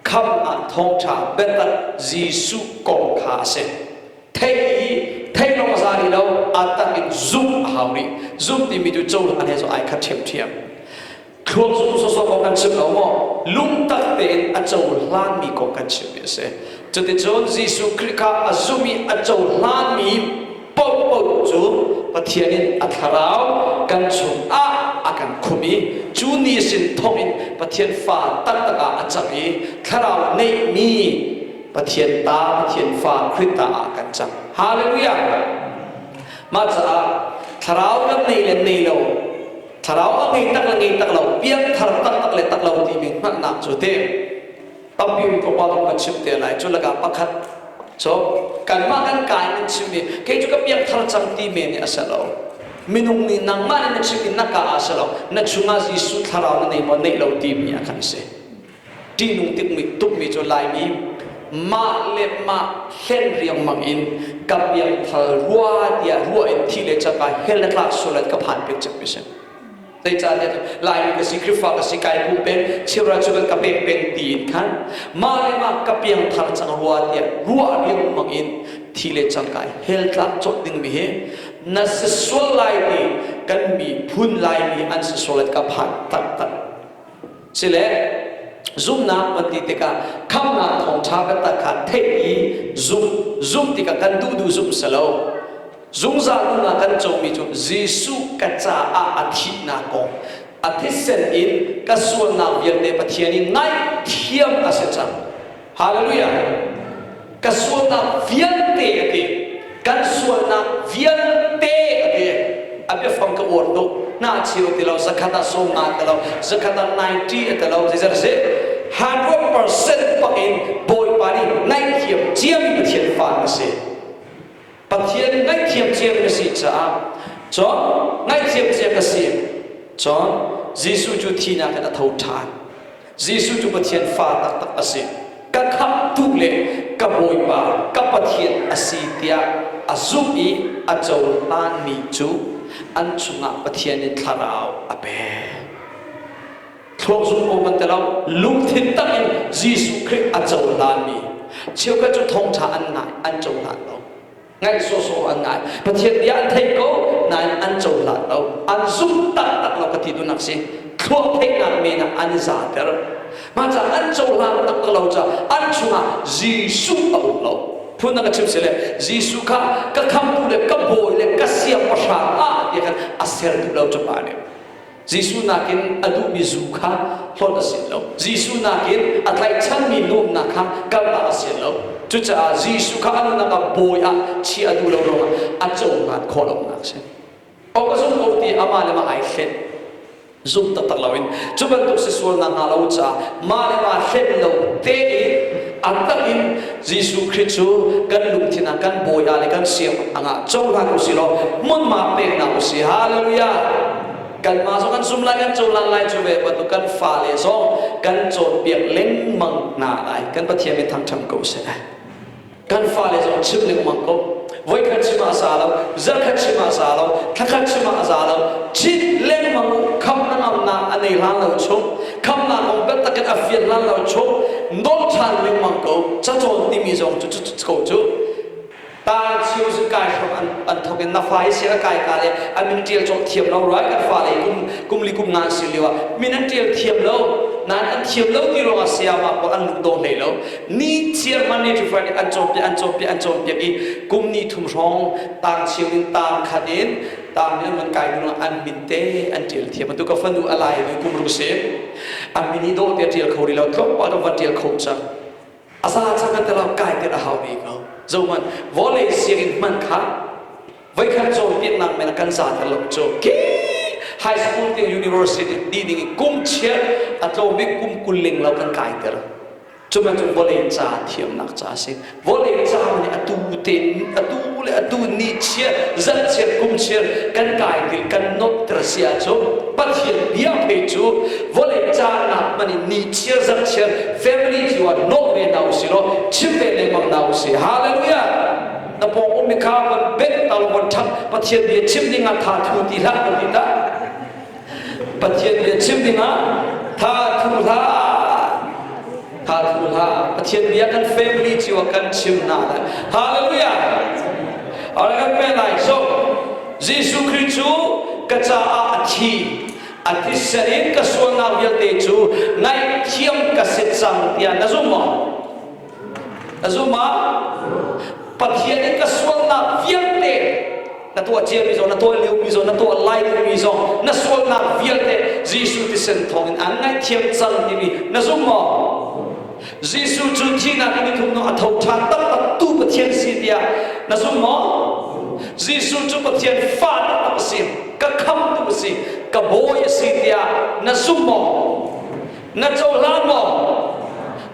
khamnak thawngṭha biatak Jesuh kong kha a si thei i theilawng za rih lo aa tak in zumh a hau rih zumh timi tu cozah nih ai khat ṭhiamṭhiam thluak zumh sawsawk ko kan chim lo maw lungtak tein a cohlanmi kong kan chimmi a si cuticun Jesuh Khrih kha a zumh i a cohlanmi paohpaoh cu Pathian in a thlarau kan chungah a kan khum i cu ni sin thawngin Pathian fa taktak ah a cang i thlarau neihmi Pathian ta, Pathian fa Khrih ta ah kan cang. Hallelujah! Mah caah thlarau nan nei le nei lo, thlarau a ngei tak le ngei tak lo, piangthar taktak le tak lo timi hngalhnak cu teh tampi in Papa nih kan chim te lai. Cu lakah pakhat so kanmah kan kai nan chim i kei cu ka piangthar cang ti men hi a si lo. Minung nih nangmah in na chim i na ka ah a si lo. Na chungah Jesuh thlarau na nei maw neih lo timi a kan si. Ṭihnung tukmi cu Laimi mah le mah hlen riangmang in ka biangfal rua tiah ruah in thi le caka hel le tlak sual an ka phan peng cang mi si. Zeicahtiah Laimi ka si, Khrihfa ka si, kai pumpe, chirra cu kan ka pek peng ti in khan mah le mah ka piangthar cang rua tiah ruah riangmang in thi le cangka hel tlak cawt ding mi hi na si sual lai ti kan miphun Laimi an si sual an ka phan taktak. sile zumhnak kan ti tikah khamhnak thawngṭha kan tat kha theih i zumh zumh tikah kan duh duh zumh selo zungzal nunnak kan comi cu Jesuh ka caah a thihnak kong a thisen in ka sualnak vialte Pathian i ngaihthiam ka si cang Hallelujah! Ka sualnak vialte a ti. Kan sualnak vialte a ti. A biafang ka uar tuk. Hna cheu ti lo, zakhat ah sawm nga ti lo, zakhat ah 90 a ti lo, zeizat a si. 100% pak in Bawipa nih ngaihthiam ciami Pathian fa na si. Pathian ngaih thiamthiam na si caah John ngaih thiamthiam na si. John, Jesuh cu thihnak in a tho ṭhan. Jesuh cu Pathian fa taktak a si. Ka khamhtu le ka Bawipa, ka Pathian a si tiah a zumh i a cohlanmi cu an chungah Pathian in thlarau a pek. Thlawh zung kong kan tel lo. Lungthin tak in Jesuh Khrih a cohlanmi cheukhat cu thawngṭha an ngai, an cohlan lo. Ngaih sawhsawh an ngai. Pathian bia an theih ko nain an cohlan lo. An zumh taktak lo ka ti duhnak a si. Thluah theihnak men ah an i zahter. Mah caah an cohlan taktak lo caah an chungah Jesuh a um lo. Phun a ka chimh sile Jesuh kha ka khamhtu le ka bawi le ka siangpahrang a ti ahkhan a ser duh lo cu pa nih. Jesuh nakin a duhmi zu kha hlawt a si lo. Jesuh nakin a tlaihchanmi nuamhnak kha kaltak a si lo. Cucaah Jesuh kha a nunnak ah bawi ah chiah a duh lo ruangah a cohlan khawh lonak a si. Awk a zum ko ti amah le mah ai hlen. Zumh taktak loin cu bantuk si sual nakhnga lo caah mah le mah hlen lo tein a tak in Jesuh Khrih cu kan lungthin ah kan bawi ah le kan siangpahrang ah cohlan u si law hmunhma pek hna u si. Hallelujah! Kanmah zong kan zum lai, kan cohlan lai cu ve bantuk kan fale zong kan cawnpiak lengmang hna lai. Kan Pathian min thangṭhat ko seh. Kan fale zong chim lengmang ko. voikhat chim ah za lo zarhkhat chim ah za lo thlakhat chim ah za lo chit lengmang kham na ngamnak a nei hlan lo chung khamnak um bel takin a fian hlan lo chung nol than lengmang ko cacawn timi zong cu cu ko cu tan chiu zu kai hram an an thokin na fai se kai ka le an min tial chok thiam lo ruai kan fa le kum kum li kum ngan si liwa min an tial thiam lo nan an thiam lo ti ro sia ma ko an lung do hlei lo ni chiar Monday to Friday an cawmpiak an cawmpiak an cawmpiak i kum ni thum hrawng taang chiu in taang khat in taang nih an van kai hnu an min te an ṭial thiam bantuk ka fanu a lai nu kum ru si an min i dawh te ṭial kho rih lo tlawmpal lo van ṭial kho cang a za cang an tala kai tet a hau ve ko zohman vawlei sianginn man kha voikhat cawnpiaknak men kan zaan a lok cu ki high school te university ti ding i kum chiat a tlawmi kum kul ling lo kan kai ter Cu bantuk vawlei ca thiamnak ca a si. Vawlei ca nih atu tein, atu le atu nihchiat, zalhchiat, kumchiat kan kai ti kan nuamhter si ahcun Pathian bia phei cu vawlei canak hmanh in nihchiat, zalhchiat, family cu ah nawh ve hna usihlaw chim ve lengmang hna usih. Hallelujah! Na pawng ummi kha von bengh hna u, von ṭhangh, Pathian bia chim dingah tha thu ti hlah, va ti hlah. Pathian bia chim dingah tha thu hlah tha thu hlah Pathian bia kan family cu kan chim hna lai hallelujah alright kan pe lai so Jesuh Christ cu ka caah a thi a tisa in ka sualnak vialte cu ngaihthiam ka si cang tiah na zumh maw ka zum ah pathian in ka sualnak vialte na tuah ciami zong na tuah liomi zong na tuah lai lomi zong na sualnak vialte Jesuh thisen thawngin an ngaihthiam cang timi na zum maw Jesuh cu thihnak in nithum no a tho ṭhan taktak tu Pathian si tiah na zum maw Jesuh cu Pathian fahnak a si ka khamtu a si ka bawi a si tiah na zum maw Na cohlan maw?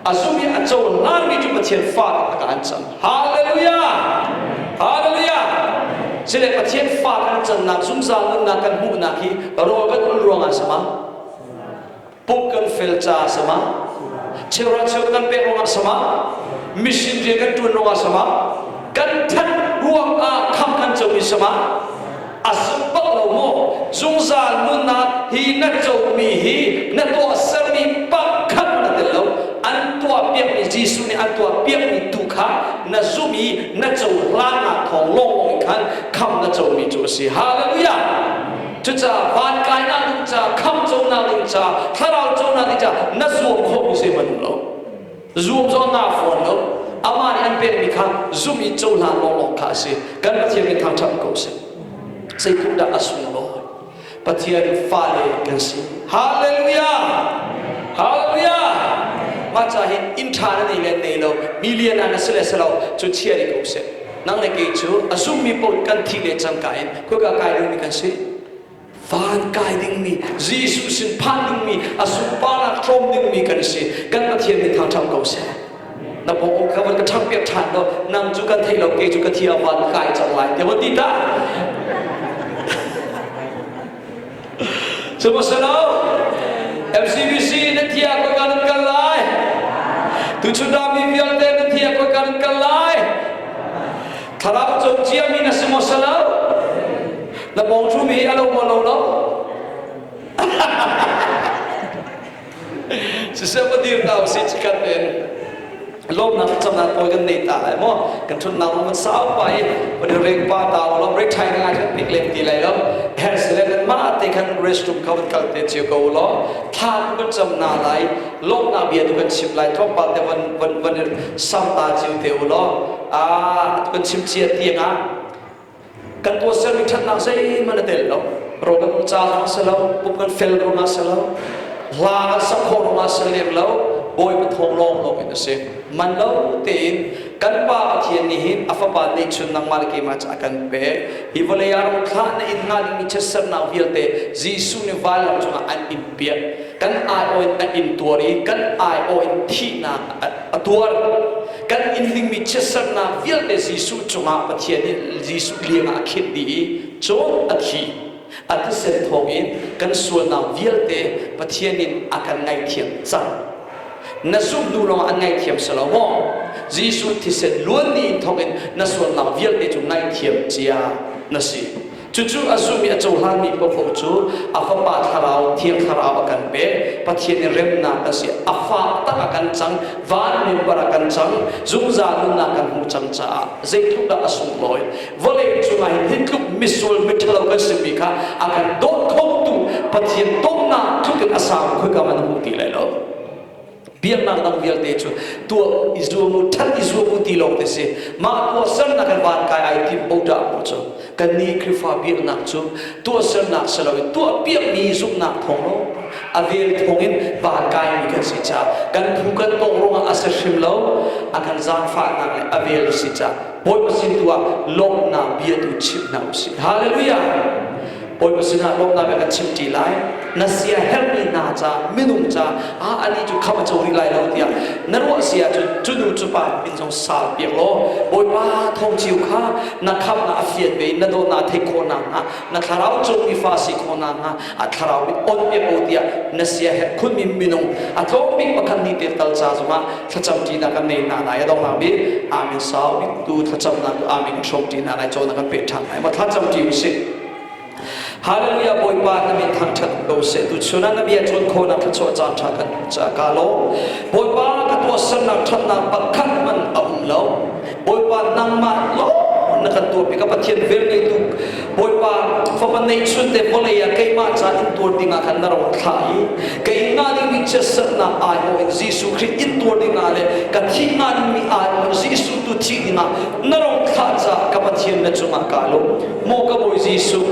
A zum i a cohlanmi cu Pathian fale lakah an can. Hallelujah! Hallelujah! Sile Pathian fale an cannak zungzal nunnak kan hmuhnak hi rawl kan ul ruangah sama, pumh kan fel caah sama, cheuhra cheu kan pek ruangah sama, mission rian kan ṭuan ruangah sama, kan ṭhat ruangah khamh kan comi sama, A zum bak lo maw? Zungzal nunnak hi na comi hi na tuahsermi pakhat na tel lo. An tuahpiakmi, Jesuh nih an tuahpiakmi tu kha na zumh i na cohlan ah thawng lawnglawng in khan khamh na comi cu a si. Hallelujah! Cucaah van kainak ding ca, khamh conak ding ca, thlarau conak ding ca na zuam khawhmi zeihmanh um lo. Zuamcawhnak form lo amah nih an pekmi kha zumh i cohlan lawnglawng kha a si. Kan Pathian kan thangṭhat ko sih. Zeitindah a sunglawi? Pathian fale kan si. Hallelujah! Hallelujah! Mah ca hi inn ṭha na nei le nei lo, million ah na si le si lo, cu chia rih ko seh. Nang le kei cu a zummi paoh kan thih le cangka in khuika kai dingmi kan si. van kai dingmi Jesuh sin phan dingmi a sunparnak tlawm dingmi kan si kan Pathian min hna ṭhang ko seh na pawng kha van ka ṭhang piak ṭhan do nang cu kan theih lo kei cu ka thi ah van kai cang lai ne van ti ta sihmanhsehlaw FCBC nan thi ah koi kan nan kal lai tu chunami vialte nan thi ah koi kan nan kal lai Thlarau cawnciami na si maw sa lo? Na bawngthum hi a lo maw lo lo? siseh va dir ta usih cikan in lawmnak camnak pawi kan nei ta ai maw kan thun nau man sau pa i wani rek pa ta lo re thai ngai kan pik len ti lai lo her se le ma te kan restroom kha van kal te chiu ko lo tha tu kan cham na lai lawmna bia tu kan chip lai thong pa te van van van sam ta chiu te u lo kan chim cia tiang ah kan tuahsermi ṭhatnak zeihmanh a tel lo ro kan um caah si lo pup kan fel ruangah si lo hla kan sak khawh ruangah si lem lo bawi pathawng lawng lawng in a si man lo tein kan pa Pathian nih hin a fapa neihchun nangmah le keimah ca a kan pek hi vawlei ah ram thlah na in nga ding mi chiatsernak vialte Jesuh nih vanlam cungah an in piah kan aiawh in na in tuar i kan aiawh in thihnak a a tuar kan in hlingmi chiatserhnak vialte Jesuh cungah Pathian nih Jesuh liangah a khinh dih i cun a thi a thisen thawngin kan sualnak vialte Pathian in a kan ngaihthiam cang. Na zumh hnu lawngah an ngaithiam si lo maw? Jesuh thisen luan ni thawngin na sualnak vialte cu ngaihthiam cia na si. Cucu a zumh i a cohlanmi paohpaoh cu a Fapa Thlarau, Thiang Thlarau a kan pek, Pathian i remnak a si, a fahtak a kan cang, vanlianvar a kan cang, zungzal nunnak kan hmuh cang caah zeitluk dah a sunglawi! Vawlei cungah hi nitluk misual miṭhalo kan simi kha a kan dawt khotu Pathian dawtnak tluk in a sang khoika hmanh a hmuh ti lai lo. biaknak dang vialte cu tuah i zuam u ṭhan i zuam u ti lawng ti si mah tuahsernak in van kai ai tim bo ṭah mu cu kannih Khrihfa biaknak cu tuahsernak si loin tuah piakmi zumhnak thawng lo a vel thawngin van kaimi kan si caah kan phu kan tawk ruangah a si hrim lo a kan zaangfahnak le a vel si caah Bawipa sin tu ah lawmhnak bia tu chimh hna u sih hallelujah Bawipa sinah lawmnak a kan chimṭi lai. Na sia herhmi hna ca, minung ca, ah ani cu kham a co rih lai lo tiah na ruah si ahcun cu nu cu pa min zong sal piak law Bawipa thawngchiu kha na khamhnak a fian ve in na dawtnak a theih khawh nakhnga na thlarau cungmi fa si khawh nakhnga a thlarau i on piak u tiah na sia herh khunmi minung a tlawm bik pakhat nih tel tal ca zongah thlacam ṭinak kan nei hna lai a dong hangmi amin sau bik tu thlacamnak cu amin hrawk ṭinak ai cawnak kan pe ṭhan lai ma thlacam ṭi usih Hallelujah Bawipa na min thangṭhat ko seh tu chunah na bia ṭuan khawnak thluachuah caan ṭha kan hmuh caah ka lawm Bawipa ka tuahsernak ṭhatnak pakhat hmanh a um lo Bawipa nangmah lawng na kan tuar pi ka Pathian vel ngeitu Bawipa fapa neihchun te vawlei ah keimah ca in tuar ding ah khan na ro thlah i ka in nga ding mi chiatserhnak ai ho in Jesuh Khrist in tuar ding ah le ka thih nga ding mi ai ho Jesuh tu thih ding ah na ro thlah ca ka Pathian na cung ah ka lung maw ka Bawi Jesuh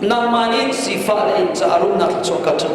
nangmah nih sifah na inn caah rumnak thluachuah ka ṭu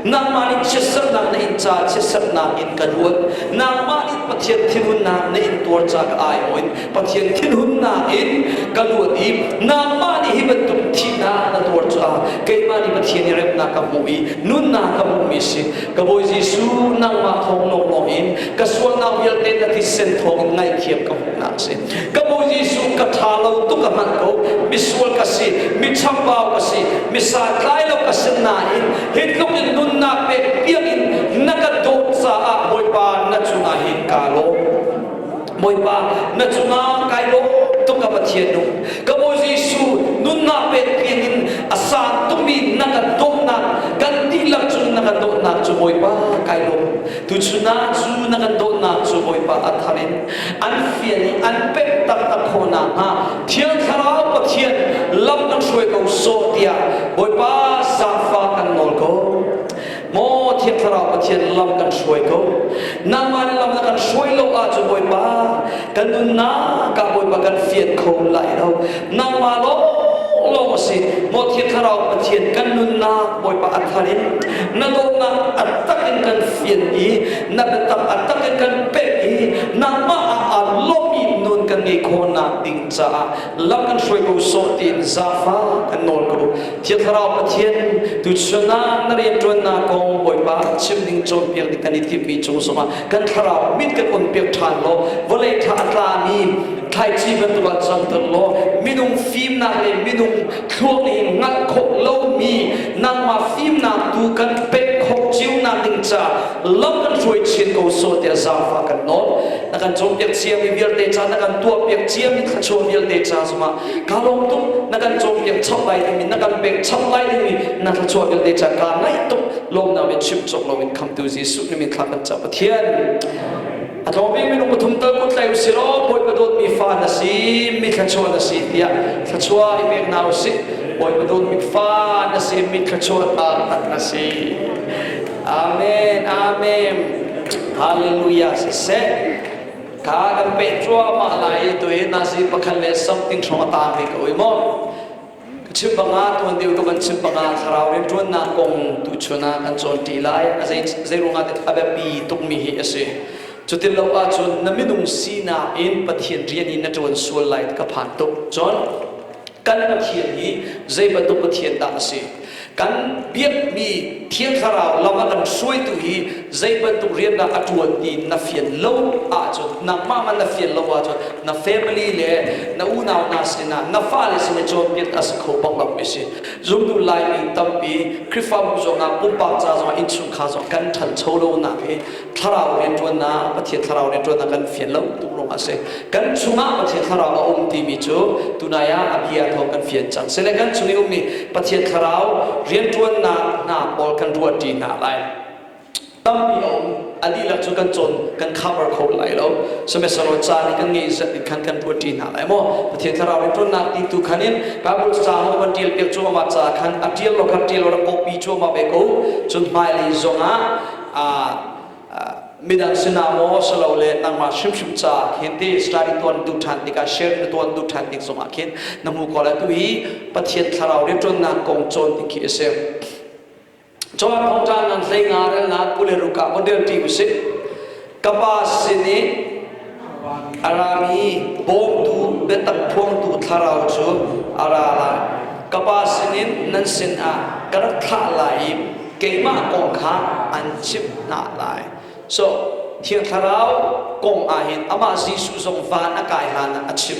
nangmah nih chiatserhnak na inn caah chiatserhnak in ka luat nangmah nih Pathian thinhunnak na intuar caah ka aiawin Pathian thinhunnak in ka luat i nangmah nih hi bantuk thihnak na tuar caah keimah nih Pathian i remnak ka hmuh i nunnak ka hmuhmi a si ka Bawi Jesuh nangmah thawng lawnglawng in ka sualnak vialte na thisen thawng in ngaihthiam ka hmuhnak a si ka bu Jesuh ka ṭha lo tuk a manh ko misual ka si mi chambau ka si mi satlai lo ka si nain hi tluk in nunnak pek biakinn na ka dawt caah Bawipa na cungah hin ka lawm Bawipa na cungah kai lawm tuk ka Pathian nu ka bu Jesuh nunnak pek biakinn a sang tukmi na ka dawtnak kan dihlak cun na ka dawtnak cu Bawipa kai lawm Tuchun ah Jew na kan dawtnak cu Bawipa a thar in an fian i an penhtak na khaw nakhnga Thiang Thlarau Pathian lam na hruai ko sawh tiah Bawipa zaangfah kan nawl ko. Maw Thiang Thlarau Pathian lam kan hruai ko. Nangmah nih lam na kan hruai lo ahcun Bawipa kan nunnak ka bawipa kan fian kho lai lo nangmah lawng lawng a si maw thiang thlarau pathian kan nunnak bawipa a thar in na dawtnak a tak in kan fian i na biatak a tak in kan pek i nangmah ah aa lawmmi nun kan ngei khawhnak ding caah lam kan hruai ko sawh tiin zafa kan nawl ko Thiang Thlarau Pathian, tu sualnak na rianṭuannak kong Bawipa chim ning cawnpiak ding kan i timhmi cung zongah kan thlarau mit kan on piak ṭhan law vawlei tha a tlami thlaici bantuk ah zamter law minung fimnak le minung thluak in hngalh khawh lomi nangmah fimnak tu kan pek khawh ciunak ding ca lam kan hruai chin ko so tiah zaangfah kan nawl na kan cawnpiak ciami vialte ca na kan tuahpiak ciami thluachuah vialte ca zongah ka lawng tuk na kan cawnpiak chap lai ding in na kan pek chap lai ding i na thluachuah vialte ca ka ngaih tuk lawmnak in chim cawk loin khamtu Jesuh ni min thlak kan ca Pathian a tlawmi minung pathum tal kut tlai usih law Bawipa dawtmi fa na si mi thluachuah na si tiah thluachuah i pek na usih Bawipa dawtmi fa na si mi thluachuah taktak na si Amen Amen Hallelujah siseh Kha kan peh cuahmah lai i tu i nazi pakhat le something hrawng a taangmi ka ui maw? Ka chim bangah tuan deuh tuk an chim bangah thlarau rianṭuannak kong tu chun ah kan cawnṭi lai. A zei zeiruangah a biapi tukmi hi a si. Cutin lo ahcun na minung sinak in Pathian rian i na ṭuan sual lai ka phan tuk. Cun kan Pathian hi zei bantuk Pathian dah a si? Kan biakmi thiang thlarau lam a kan hruaitu hi zei bantuk riandah a ṭuan ti na fian lo ahcun, nangmah man na fian lo ahcun na family le na unau hna sinah na fale sin i cawnpiak a si kho paoh lam i si. Zumtu Laimi tampi Khrihfabu zongah pumpak ca zongah innchungkhar zong kan ṭhancho lonak hi thlarau rianṭuannak Pathian thlarau rianṭuannak kan fian lo tuk lawng a si kan chungah Pathian thlarau a um timi cu tunai ah a bia thawng kan fian cang sile kan chung i ummi Pathian thlarau rianṭuannak hna pawl kan ruahṭi hna lai tampi a um a dihlak cu kan cawn kan cover kho lai lo semester caan i kan ngeih zat in khan kan ruat hna lai maw Pathian thlarau rianṭuannak ti tu khan in Bible ca ho kan ṭial piak cu ama ca khan a ṭial lo khan ṭial lo rak awpi cu ama ve ko cun hmailei zongah midang sinah maw silole nangmah hrimhrim caah khin ti Israel i tuan tu ṭhan tikah Israel na tuan tu ṭhan tik zongah khin na hmu ko lai tu i Pathian thlarau rianṭuannak kong cawn tik khi a si. Johan Phawngṭang nan hleinga relnak u le ruka von relṭi usih. ka pa sin i a rami bawmtu biatak phuangtu thlarau cu a ra lai ka pa sinin nan sinah ka rak thlah lai i keimah kong kha an chimh hna lai so thiang thlarau kong ah hin amah jesuh zong van a kai hlan ah a chim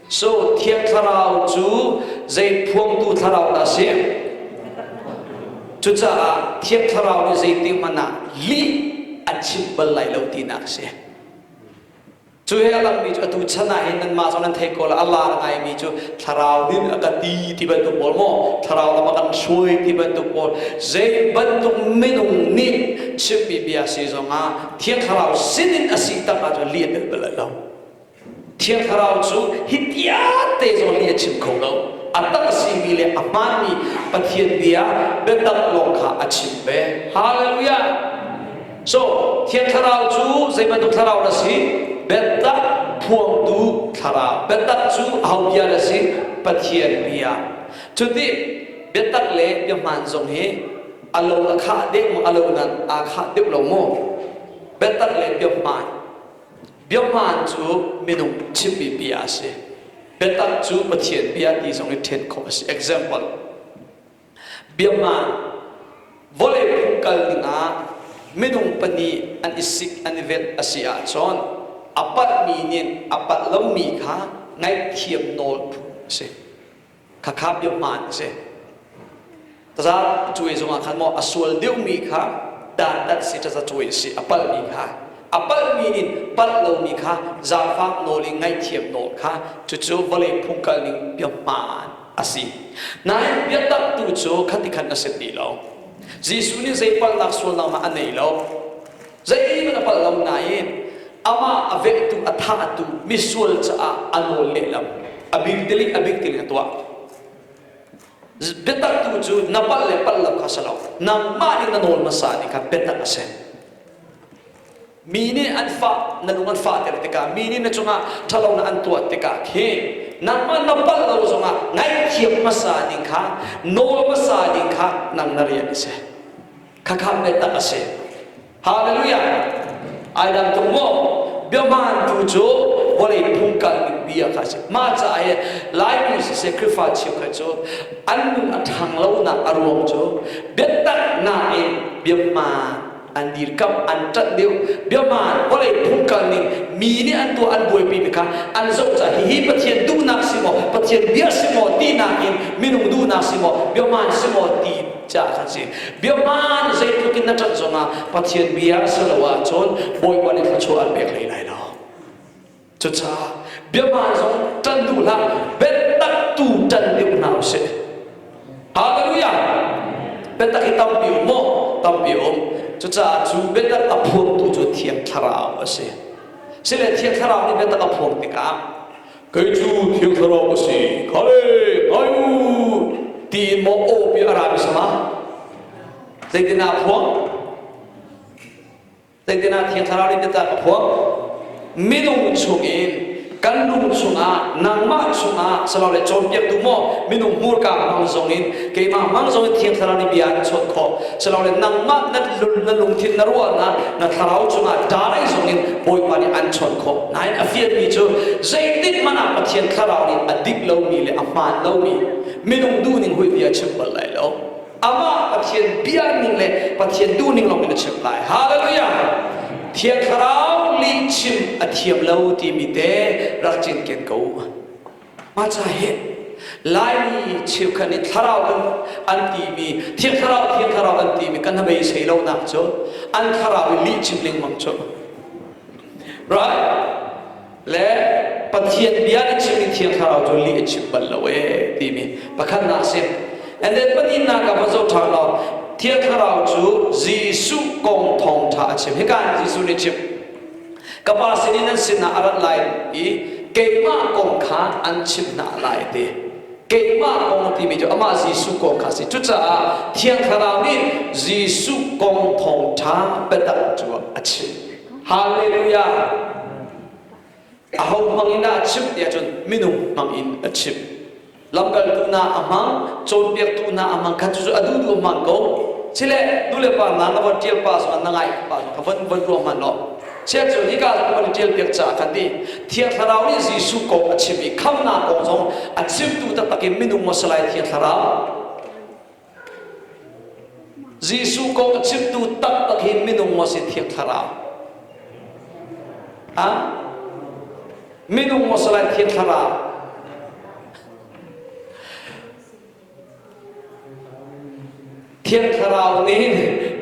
So, Thiang Thlarau cu zei phuangtu thlarau dah a si? Cucaah Thiang Thlarau nih zeitik hmanh ah lih an chimh bal lai lo tinak a si. Cu he a langmi cu atu chan ah hin nanmah zong nan thei ko la a lar ngaimi cu thlarau nih a kan ti ti bantuk pawl maw thlarau lam a kan hruai ti bantuk pawl zei bantuk minung nih chimmi bia si zongah thiang thlarau sin in a si tang ahcun lih a bel bal lo. Thiang Thlarau cu hi tiate zong nih a chim kho lo. A tak simi le a hmaanmi Pathian bia biatak lawng kha a chim ve. Hallelujah! So, Thiang Thlarau cu zei bantuk thlarau na si? Biatak phuangtu thlarau. Biatak cu ho bia na si? Pathian bia. Cuti biatak le biahmaan zong hi a lo na khah deuh maw? A lo nan aa khah deuh lo maw? Biatak le biahmaan. Biahmaan cu minung chimmipi ah a si. Biatak cu Pathian bia ti zong i ṭhen khawh a si. Example, Biahmaan, Vawlei phung kal dingah minung pahnih an i sik an i velh a si ahcun a palhmi nih a palh lomi kha ngaihthiam nawl phung a si. Khakha deuh hmaan a si. Taza cawe zongah khan maw a sual deuhmi kha dantat si taza cawe a si a palhmi kha, a palhmi in palh lomi kha zaangfak nawl i ngaihthiam nawl kha, cucu vawlei phung kalning biahmaan a si. Nain biataktu cu khati khan a si ti lo. Jesuh nih zei palhnak sualnak mah a nei lo. Zeihmanh a palh lo nain amah a vehtu a thahtu misual caah a nawl lehlam a bik tiling a bik tiling a tuah. Biataktu cu na palh le palh lo kha si lo, nangmah in na nawl hmasa ni kha biatak a si. Mi nih an fah, na lung an fahter tikah, mi nih na cungah ṭhalonak an tuah tikah khi nangmah na palh lo zongah ngaihthiam hmasa ning kha, nawl hmasa ning kha nang na rian a si. Khakha biatak a si. Hallelujah! Ai dang tuk maw? Biahman tu cu vawlei phung kalmi bia kha a si. Mah caah hi Lainu siseh Khrihfa cheukhat cu an nun a ṭhang lonak a ruang cu biataknak in biahman an dirkamh, an ṭanh deuh. Biahman, vawlei phung kalning, mi nih an tuah an buaipimi kha an zoh caah hihi Pathian duhnak si maw, Pathian bia si maw tinak in minung duhnak si maw, biahman si maw ti caah kan si biahman zeitluk in na ṭanh zongah Pathian bia a si lo ahcun Bawipa nih thluachuah an pek hlei lai lo cucaah biahman zong ṭan duh hlah biataktu ṭan deuh hna u sih halleluja biatak hi tampi um maw tampi um cucaah cu biatak a phuaktu cu thiang thlarau a si sile thiang thlarau nih biatak a phuak tikah kei cu thil thlarau ka si khale ngai u tiin maw aw pi a rami sama zeitinah phuang zeitinah thiang thlarau nih tiah ka phuang minung chungin kan lung chungah nangmah chungah salole cawnpiaktu maw minung hmurka mang zongin keimah hmang zong in thiang thlarau nih bia an chuah khawh silole nangmah na lung na lungthin na ruahnak na thlarau cungah darei zong in bawipa nih an chawn khawh nain a fialmi cu zeitik hmanh ah pathian thlarau nih a dik lomi le a hmaan lomi minung duh ning hui bia chim bal lai lo amah pathian bia ning le pathian duh ning lawngin a chim lai hallelujah thiang thlarau lihchim a thiam lo timi te rak cinken ko Maca hi Laimi cheukhat nih thlarau an an timi thiang thlarau thiang thlarau an timi kan bei sei lo nak cu an thlarau i lih chim lengmang cu right le Pathian bia nih chim in thiang thlarau cu lih a chim bal lo e timi pakhat nak si and then pahnih nak ka va zo tha lo thiang thlarau cu Jesuh kong thawng tha a chim hikan Jesuh nih chim Ka pa sinin an sinah a rat lai i keimah kong kha an chimh hna lai a ti. Keimah kong a timi cu amah Jesuh kong kha a si. Cucaah Thiang Thlarau nih Jesuh kong thawngṭha biatak cu a chim. Halleluja! Ahohmang in dah a chimh ti ahcun minung hmang in a chim. lamkaltu hna a hmang cawnpiaktu hna a hmang kha cucu a duh duh a hmaan ko chile nule pa hna na von ṭial pa zong na ngaih pa zong kha von von ruang hmanh law chiah cu nika zong kan ṭial piak caah kan ti thiang thlarau nih Jesuh kong a chim i khamnak kong zong a chimtu taktak in minung maw si lai thiang thlarau Jesuh kong a chimtu taktak hi minung maw si thiang thlarau? Ha? Minung maw si lai thiang thlarau? Thiang thlarau nih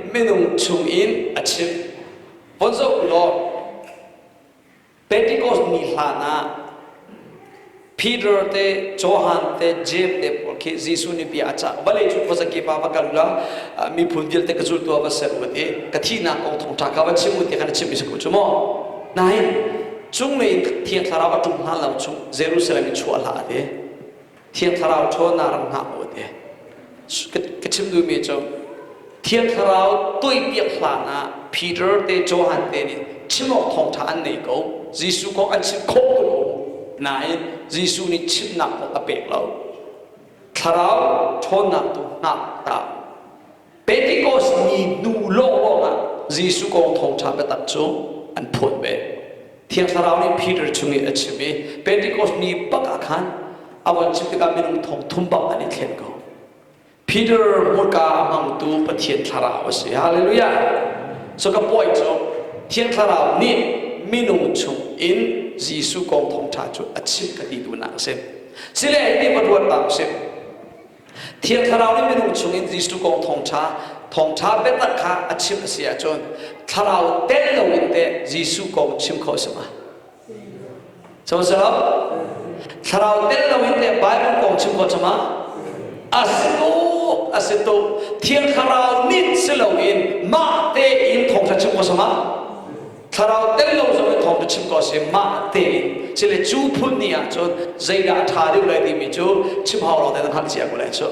minung chung in a chim. Von zoh u law, Pentecost ni hlan ah Peter te Johan te James te pawl khi Jesuh nih bia a cah vale cu khuaza ke pa va kal ula miphun vialte ka zultu ah va ser u ti ka thihnak kong thawng ṭha kha va chim u ti kan chimmi si cu maw nain cunglei thiang thlarau a ṭum hna lo chung Jerusalem i chuah hlah a ti Thiang Thlarau ṭhaw naa rak hngah aw te. Ka chim duhmi cu Thiang Thlarau tuaipiak hlan ah Peter te Johan te nih chim awk thawngṭha an nei ko. Jesuh kong an chimh khawh ko lo nain Jesuh nih chimnak kong a pek lo. Thlarau ṭhawnnak tu hngak ta Pentecost ni hnu lawh ruangah Jesuh kong thawngṭha biatak cu an phawt ve. Thiang Thlarau nih Peter chung i a chim i Pentecost ni bak ah khan a von chim tikah minung thong thum bang an i thlen ko. Peter hmurka a hmangtu Pathian Thlarau a si. Hallelujah! So ka puai cu Thiang Thlarau nih minung chung in Jesuh kong thawngṭha cu a chim ka ti tu nak a si. Sile hi ti va ruat bang u sih. Thiang thlarau nih minung chungin Jesuh kong thawngṭha thawngṭha biatak kha a chimh a si ahcun thlarau telh loin teh Jesuh kong chim khawh a si hnga. Co si lo? Thlarau telh loin teh Baibal kong chim khawh cuma a si tuk, a si tuk. Thiang thlarau nih si loin mah tein thawngṭha chim khawh zongah Thlarau tel lo zong in thawngṭha chim ko seh, mah tein sile cu phun ni ah cun zeidah a ṭha deuh lai timi cu chim hau lo tein hngalhcia ko lai cu.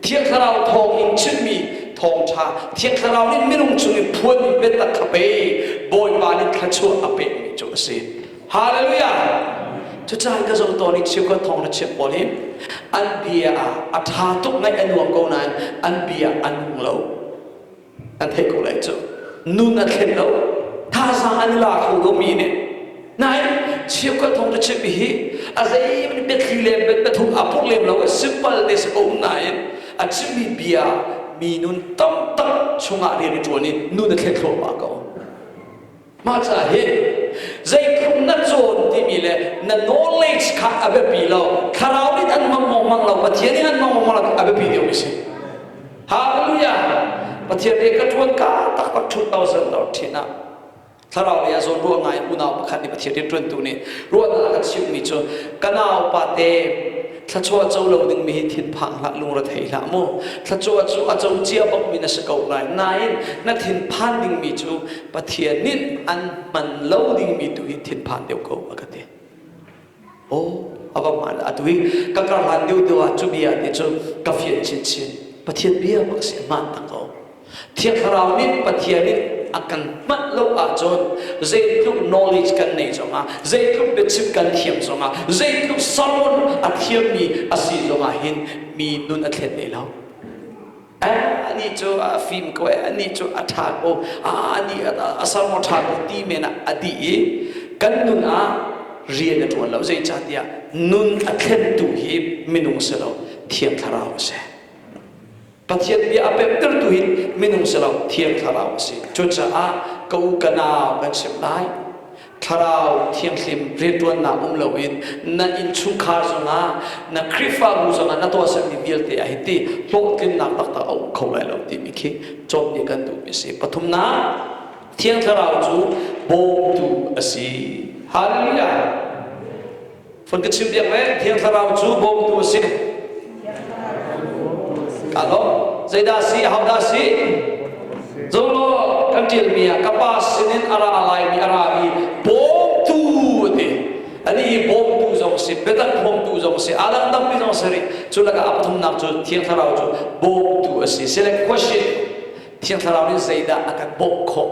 Thiang Thlarau thawng in chimmi thawngṭha, Thiang Thlarau nih minung chung in phuan in biatak a pe i Bawipa nih thluachuah a pekmi cu a si. Hallelujah! Cucaah ka zumh tawn i Chiokua thawngṭha chiah pawl hi an bia ah a ṭha tuk ngaih a nuam ko nain an bia an nung lo. an theih ko lai cu nun a thlen lo thazaang an i la kho komi nih nain cheukhat thawng cu chimmi hi a zeimanh biathli le biathum a purh lem lo simple te si ko nain a chimmi bia mi nun tam tak chungah rian i ṭuan i nun a thlen thluahmah ko Mah ca hi zeithum na cawn timi le na knowledge kha a biapi lo. Thlarau nih an mong mongmang lo, Pathian nih an mong mongmang lo a biapi deuhmi si. Hallelujah! Pathian nih ka ṭuan ka taktak 2000 dolar ṭhin ah thlarau lei ah zawn ruah ngai unau pakhat nih Pathian rianṭuantu nih ruahnak a kan chimhmi cu ka naupa te Thluachuah co lo dingmi hi thinphang hlah, lungrethei hlah mu. Thluachuah cu a co cia bangmi na si ko lai. Nain, na thinphan dingmi cu Pathian nih an hman lo dingmi tu hi thinphang deuh ko a ka ti. Aw, a va hmaan atu i ka ka hlan deuhdeuh ah cu bia nih cun ka fianh chinchin. Pathian bia maw a si, hmaan ta ko. Thiang Thlarau nih Pathian in a kan manh lo ahcun zeitluk knowledge kan nei zongah, zeitluk biachim kan thiam zongah, zeitluk sermon a thiammi a si zongah hin mi nun a thlen hlei lo. Anih cu a fim ko, anih cu a ṭha ko, anih a sermon ṭha ko ti men ah a dih i kan nun ah rian a ṭuan lo. Zeicahtiah nun a thlentu hi minung si lo, Thiang Thlarau a si. Pathian bia a pemhtertu hi minung si lo, Thiang Thlarau a si. Cucaah ka u ka nau kan chimh lai, Thlarau Thianghlim rianṭuannak um loin na innchungkhar zongah, na Khrihfabu zongah na tuahsermi vialte ah hiti hlawhtlinnak taktak a um kho lai lo timi khi cawnpiak kan duhmi a si. Pathumnak, Thiang Thlarau cu bawmtu a si. Halleluja! Von ka chim diak le Thiang Thlarau cu bawmtu a si. Ka lawm. Zeidah si? How dah si? Zong law kan ṭialmi ah ka pa sinin a ra laimi a rami bawmtu a ti. Anih hi bawmtu zong a si, biatak bawmtu zong a si, aa dangdangmi zong a si rih. Cu lakah a pathumnak cu Thiang Thlarau cu bawmtu a si. Select question. Thiang Thlarau nih zeidah a kan bawmh khawh?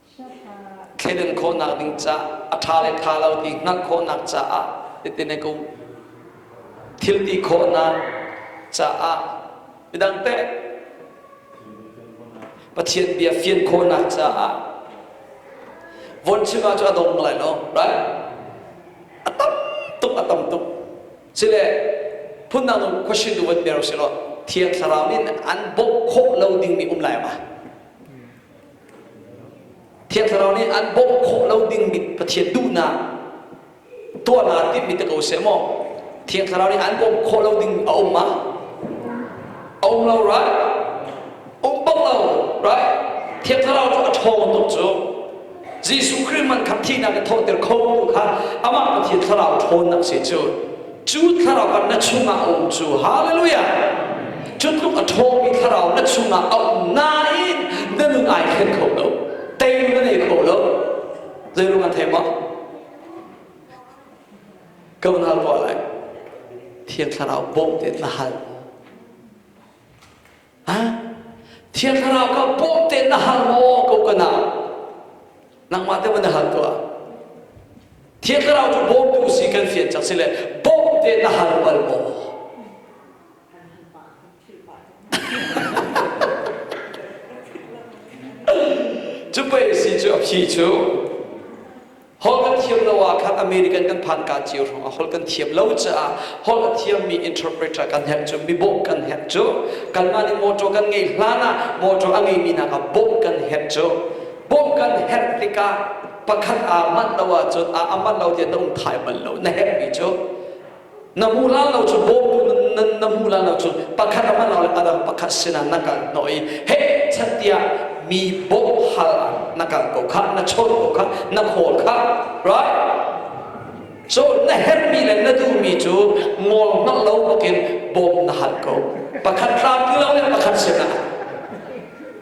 thleidang khawhnak ding caah a ṭha le ṭha lo ti hngalh khawhnak caah hitin a kum thilti khawhnak caah midangte Pathian bia fian khawhnak caah Vonchima cu a dong lai lo right a tam tuk a tam tuk cile phundang um question tu van ber si lo thiang thlarau nin an bawh khawh lo ding mi um lai ma Thiang Thlarau nih an bawmh khawh lo dingmi Pathian duhnak tuahnak timhmi te ko seh maw. Thiang Thlarau nih an bawmh khawh lo ding a um ah? A um lo, right? Um bang lo, right? Thiang Thlarau cu a ṭhawng tuk cu. Jesuh Khrih man kha thihnak in thawhter kho tu kha amah Pathian Thlarau ṭhawnnak si cu. Cu thlarau kan na chungah a um cu, hallelujah! Cu tluk a ṭhawmi thlarau na chungah a um nain na nun ai thlen kho lo, teilung na nei kho lo. Zeiruang a thei maw? Ka unau pawl lai, Thiang Thlarau bawmh te na hal. Thiang Thlarau kha bawmh te na hal maw ko ka na? Nangmah te ma na hal tuah? Thiang Thlarau cu bawmtu si kan fian cak si le bawmh te na hal bal maw? Cu pei si cu a phi cu Holh kan thiam lo ah khan American kan phanka cio hrawng a holh kan thiam lo caah holh a thiammi interpreter kan herh cu mibawmh kan herh cu kanmah nih mawṭaw kan ngeih hlan ah mawṭaw a ngeimi hna kha bawmh kan herh cu bawmh kan herh tikah pakhat aa manh lo ahcun a manh lo tiah na um thai bal lo na herhmi cu na hmuh lai lo cu bawmtu nan, na hmuh lai lo cu pakhat a hman le a dang pakhat sinah na kal hnawh i he chan tiah mi bawmh hal ah na kal ko kha na chawn ko kha na khawl kha right so na herhmi le na duhmi cu ngol hngalh lo bukin bawm na hal ko pakhat hrampi lo le pakhat sinah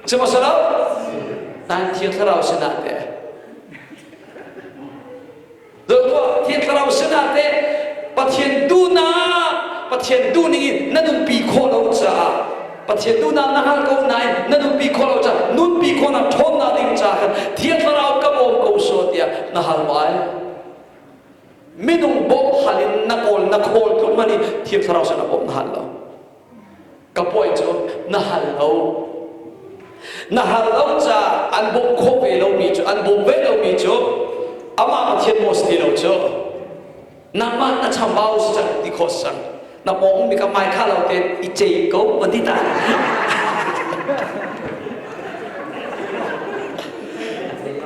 sihmahselaw nan thiang thlarau sinah le Tuah Thian Thlarau sinah teh Pathian duhnak Pathian duh ning in na nunpi khawh lo caah Pathian duhnak na hngal ko nain na nunpi khawh lo caah nunpi khawhnak ṭhawnnak ding caah Thian Thlarau ka bawm ko sawh tiah na hal lai. Minung bawmh hal in na kawl na khawl tluk hmanh i Thian Thlarau sinah bawmh na hal lo. ka puai cu na hal lo na hal lo caah an bawmh khawh ve lomi cu an bawm ve lomi cu amah Pathian maw si ti lo cu nangmah na chambau si cang ti khawh si cang na pawng mi ka mai kha lo te i cei ko va ti ta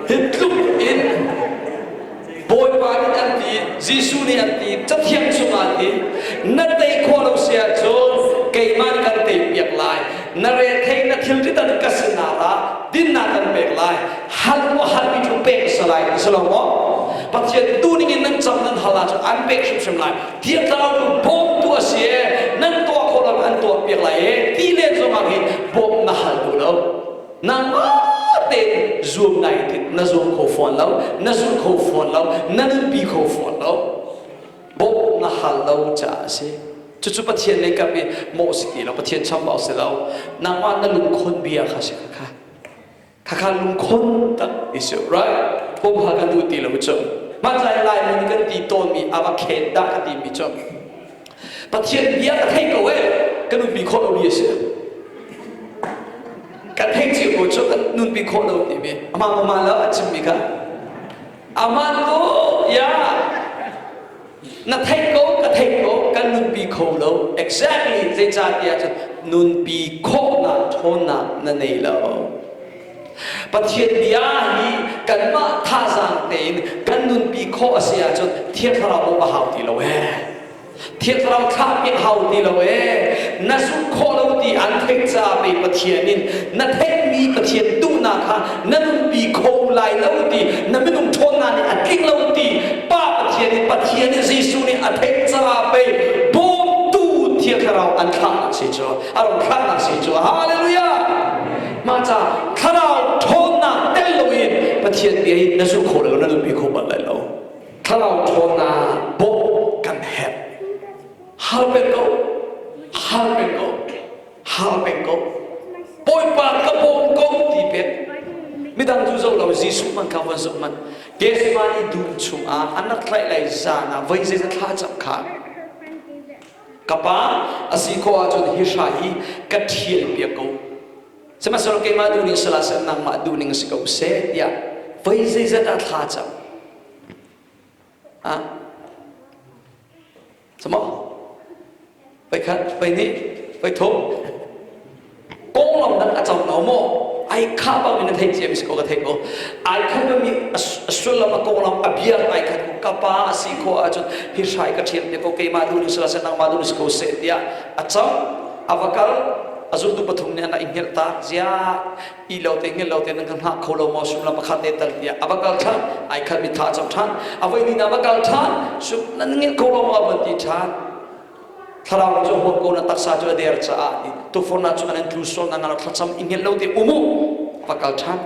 hi tluk in Bawipa nih an ti, Jesuh nih an ti, Cathiang chungah an ti, na tei khawh lo si ahcun keimah nih kan tei piak lai. Na rethei na thilrit an ka sinah ra, dinnak kan pek lai. Hal maw halmi cu pek a si lai, a si lo maw? Pathian tu ningin nan cam nan hal ahcun an pek hrimhrim lai. Thiang Thlarau cu bawmtu a si ee, nan tuah khawh loin an tuah piak lai ee, ti len zongah hi bawmh na hal duh lo. Nangmah tein zuam ngai ding na zuam kho fawn lo, na zulh kho fawn lo, na nunpi kho fawn lo. Bawmh na hal lo caah a si. Cucu Pathian lei kam i mawh si ti lo, Pathian chambau si lo. Nangmah na lungkhon bia kha si khakha. Khakha lungkhon tak i si, right? Humha kan duh ti lo cu. Hmantlai Lai min kan ti tawnmi a va khen dah ka timi cu Pathian bia ka thei ko e ka nunpi khawh lo ri a si kan hei cio ko cu kan nunpi khawh lo ti ve amah mama lo a chimmi kha aman ko ya na thei ko ka thei ko kan nunpi kho lo exactly zeicahtiah cun nunpi khawhnak ṭhawnnak na nei lo Pathian bia hi kanmah thazaang tein kan nunpi khawh a si ahcun Thiang Thlarau bawmh a hau ti lo ee. Thiang Thlarau thlah a hau ti lo ee. Na zumh khawh lo ti an theih caah pei Pathian in na theihmi Pathian duhnak kha na nunpi kho lai lo ti na minung ṭhawnnak nih a tling lo ti Pa Pathian in Pathian in Jesuh nih a theih caah pei bawmtu Thiang Thlarau an thlah si cu a rung thlahnak si cu. Hallelujah! mah ca thlarau ṭhawnnak tel loin Pathian bia i na zumh khawh lo na zumh kho bal lai lo thlarau ṭhawnnak bawmh kan herh hal peng ko hal peng ko hal peng ko Bawipa ka bawm ko ti pek midang cu zoh lo Jesuh man kha van zoh man Gethsemane dum chungah an rak tlaih lai zan ah voi zeizat thla a cam kha ka pa a si khawh ahcun hi hra hi ka thianh piak ko sihmanhsehlaw keimah duh ning a si la seh nangmah duh ning a si ko seh tiah voi zeizat ah thla cam ah samaw voi khat voi hnih voi thum konglam dang a cang lo maw ai kha bang in na thei cem si ko ka thei ko ai khan ka mi a sullam a konglam a biar ai khan ka pa a si ko ahcun hi hrai ka thiam te ko keimah du ni sala se nangmah du ni si ko se tia a chang a va kal a zultu pathum nih ana i hngilh ta zia i lo te hngilh lo te nan kan hna kho lo mo sum lam pakhat te tal tia a va kal than ai khat mi tha cham than a voi ni na va kal than sum nan ngil kho lo mo a van ti than Thlarau cu a huap ko na taksa cu a der caah ti tufurnak cu an in tlu sual na na thlacam i ngelh lo te um u va kal ṭhan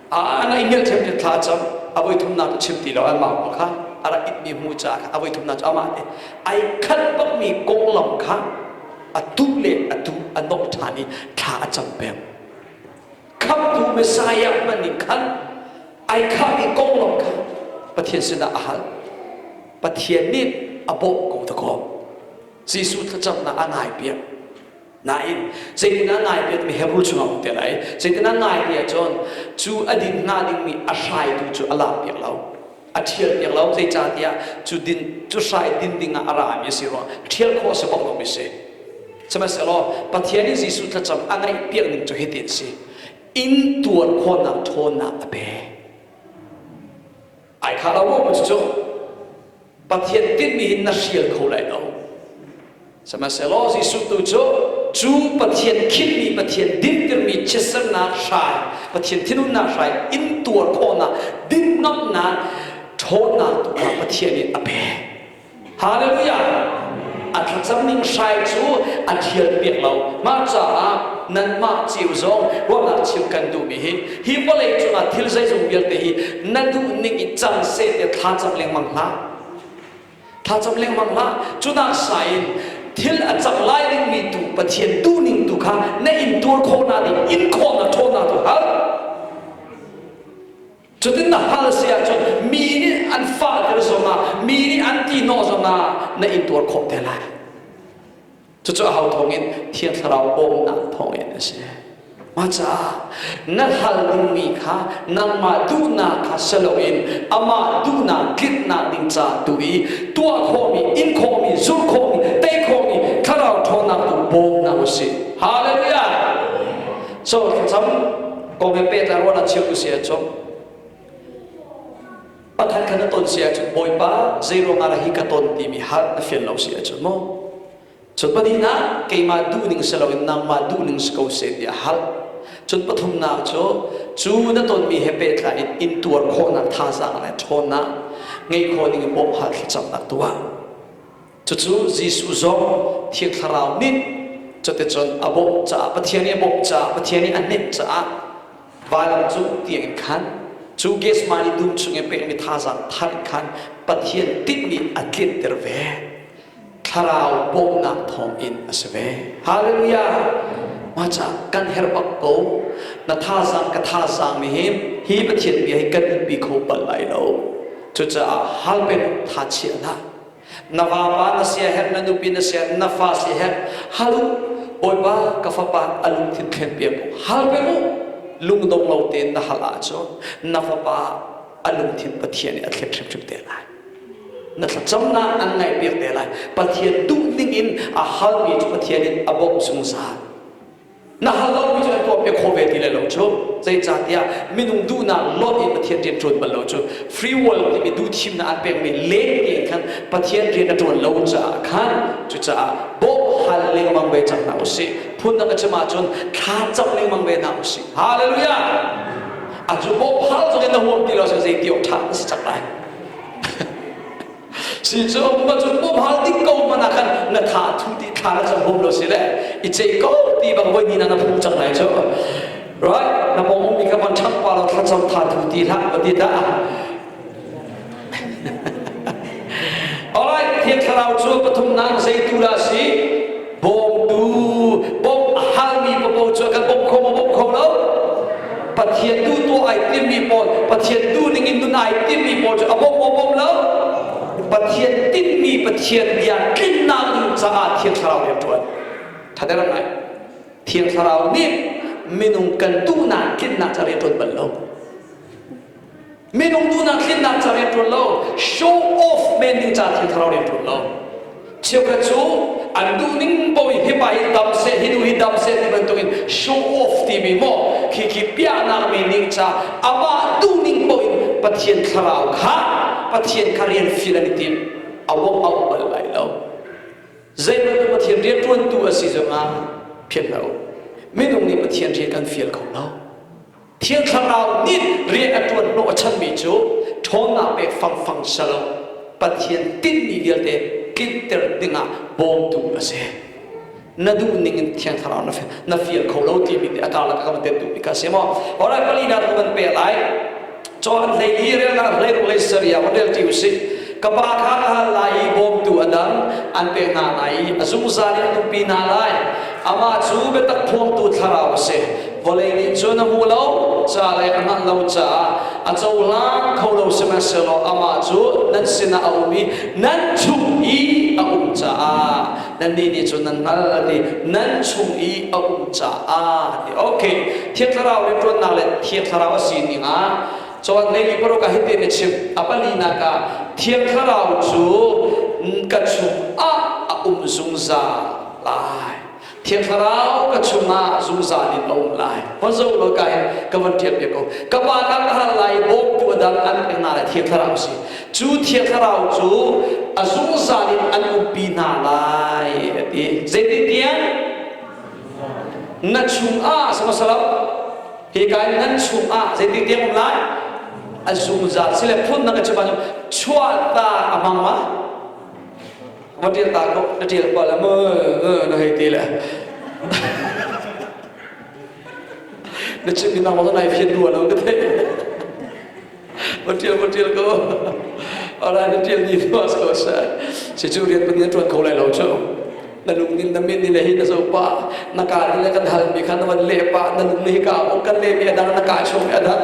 a na i ngelh thiam in thla cam a voi thumnak cu chim ti lo anmah kong kha a rak itmi hmu caah khan a voi thumnak cu amah te ai khat bakmi konglam kha a tu le a tu a nawh ṭhan i thla a cam peng Khamhtu Messiah hman ning khan ai khahmi konglam kha Pathian sinah a hal. Pathian nih a bawmh ko dakaw. Jesuh thlacamnak a nai piak. Nain, zeitinah nai piatmi he rul chung a um te lai. Zeitinah nai piah cun, cu a din hnga dingmi a hrai tu cu a lak piak lo. a ṭhial piak lo zeicahtiah cu din cu hrai din dingah a rami a si rua ṭhial khawh a si bang lomi si sihmanhsehlaw Pathian nih Jesuh thlacam a ngaih piak ning cu hitin a si intuar khawhnak ṭhawnnak a pek ai kha lo maw cucu Pathian tinhmi hi na hrial kho lai lo Sihmanhsehlaw Jesuh tu cu cu Pathian khinh i Pathian dinhtirmi chiatsernak hrai, Pathian thinhunnak hrai intuar khawhnak dinhnomhnak ṭhawnnak tu kha Pathian nih a pek. Halleluijah! A thlacamning hrai cu a ṭhial piak lo. Mah caah nanmah ceu zong ruahnak chim kan duhmi hi, hi vawlei cungah thil zeizong vialte hi na duhning in cang seh tiah thla cam lengmang hlah. Tha cam lengmang hlah. Cunak sa in thil a cang lai dingmi tu Pathian duhning tu kha na intuar khawh na ding in khawh na ṭhaw na ka hal. Cutin na hal si ahcun mi nih an fahter zongah, mi nih an ti hnawh zongah na intuar khawh te lai. Cucu aho thawngin? Thiang Thlarau bawmhnak thawngin a si. Mah caah na hal dingmi kha nangmah duhnak kha si loin amah duhnak tlinhnak ding ca tu i tuah khawhmi, in khawhmi, zulh khawhmi, tei khawhmi thlarau ṭhawnnak tu bawm hna u sih. Hallelujah! So, thlacam, kong he pehtlai ruahnak cheu usih ahcun, Pakhat kha na ton si ahcun Bawipa, zeiruangah dah hi ka ton timi hal na fial lo si ahcun maw Cun pahnihnak, keimah duhning si loin nangmah duhning si ko seh tiah hal. Cun pathumnak cu, cu na tonmi he pehtlai in intuar khawhnak thazaang le ṭhawn ah ngeih khawh ning in bawmhhal thlacamnak tuah. Cucu Jesuh zong Thiang Thlarau nih cuticun a bawmh caah Pathian i a bawmh caah Pathian i a hnemh caah vailam cung tiangin khan cu Gethsemane dum chungin pekmi thazaang thar in khan Pathian tinhmi a tlinter ve. Thlarau bawmhnak thawngin a si ve. Hallelujah! Mahcah kan herh bak ko. Na thazaang ka thazaang nih hin hi Pathian bia hi kan in pi kho bal lai lo. Cucaah hal ve law thachiah hlah. Na vapa na siaherh, na nupi na siaherh, na fa siaherh, hal u, Bawipa ka fapa a lungthin thlenpiak u, hal vek u, lungdong lo tein na hal ahcun na fapa a lungthin Pathian nih a thlen hrimhrim te lai. Na thlacamnak an ngaihpiak te lai. Pathian duh ning in a halmi cu Pathian in a bawmh zungzal. na hal lomi cu a tuam i khawh ve ti le lo cu zeicahtiah minung duhnak lawnh in Pathian rian ṭuan bal lo cu free will timi duhthimnak an pekmi leng tein khan Pathian rian a ṭuan lo caah khan cucaah bawmh hal lengmang ve cang hna usih phun na ka chim ahcun thla cam lengmang ve hna usih hallelujah a cu bawmh hal zong in na huam ti lo cu zei ti awk ṭha na si cang lai si cu pa cun mu bal ding ko hmanh ah khan na tha thu ti thla na cam hum lo si le i chei ko ti bang voi ni na na phu cang lai cu right na pong um i ka man thang pa lo thar cham tha thu ti hla va ti ta alright thiên thlarau cu pathum nang zei tu la si bawmtu bawmh a halmi papaw cu a kan bawmh kho maw bawmh kho lo Pathian tu tuah ai timmi pawl Pathian tu dingin nun ai timmi pawl cu a bawmh maw bawmh lo Pathian tinhmi Pathian bia tlinnak ding caah Thiang Thlarau rian ṭuan ṭhader ngai Thiang Thlarau nih minung kan duhnak tlinnak cu a rian ṭuan bal lo Minung duhnak tlinnak ca rian ṭuan lo, show off men ding ca thil thlarau rian ṭuan lo. Cheukhat cu an duh ning poin hipa hi dam seh, hi nu hi dam seh ti bantukin show off timi maw, khi khi piahnak meaning ca amah duh ning poin Pathian thlarau kha Pathian kha rian fial an i tim. A wok a um bal lai lo. Zeihmanh Pathian rianṭuantu a si zongah phianhno. Minung nih Pathian rian kan fial kho lo. Thiang Thlarau nih rian a ṭuan hnawh a chanmi cu ṭhawnnak pek fangfang si lo, Pathian tinhmi vialte tlinhter dingah bawmtu a si. Na duh ningin Thiang Thlarau na na fial kho lo timi nih a karlak a ka van tentu bik kha a si maw? Alright, pali hna tu kan pek lai. Cun an hlei li rel hlah, hlei hlei seria van relṭi u sih. Ka Pa kha ka hal lai i bawmtu a dang an pek hna lai i a zungzal in an umpi hna lai. Amah cu biatak phuangtu thlarau a si, Vawlei nih cun a hmu lo, ca lei a hngalh lo caah a cohlang kho lo sihmanhsehlaw amah cu nan sinah a um i nan chung i a um caah nannih nih cun nan hngalh a ti, nan chung i a um caah a ti. Ok, Thiang Thlarau rianṭuannak le Thiang Thlarau a sining ah cun ngei mi paruk ah hitin a chim, A palinak ah, Thiang Thlarau cu kan chung ah a um zungzal lai. Thiang Thlarau ka chungah zungzal in a um lai. Khuazo Lolka hi ka van ṭial ve ko. Ka pa dang a ral lai, bawmtu a dang an pek hna lai, Thiang Thlarau si. Cu Thiang Thlarau cu a zungzal in an umpi hna lai a ti. Zeitintiah na chungah sihmahselaw hika in nan chungah zeitintiang um lai a zungzal si le phun dang a chim ahcun chuahtak a hmang ma? na ṭial ta kaw na ṭial pah le mu na hei ti le na chim mi nangmah nai fian rua lo ka theih ma ṭial ma ṭial ko alright na ṭial ni nu as ko sa si cu rian pan na ṭuan kho lai lo cu na lung nin na min ni le hi na zo pa na ka ni le kan hal mi kha na van le pa na lung ni hi ka bong kan le mi adang na ka chung mi adang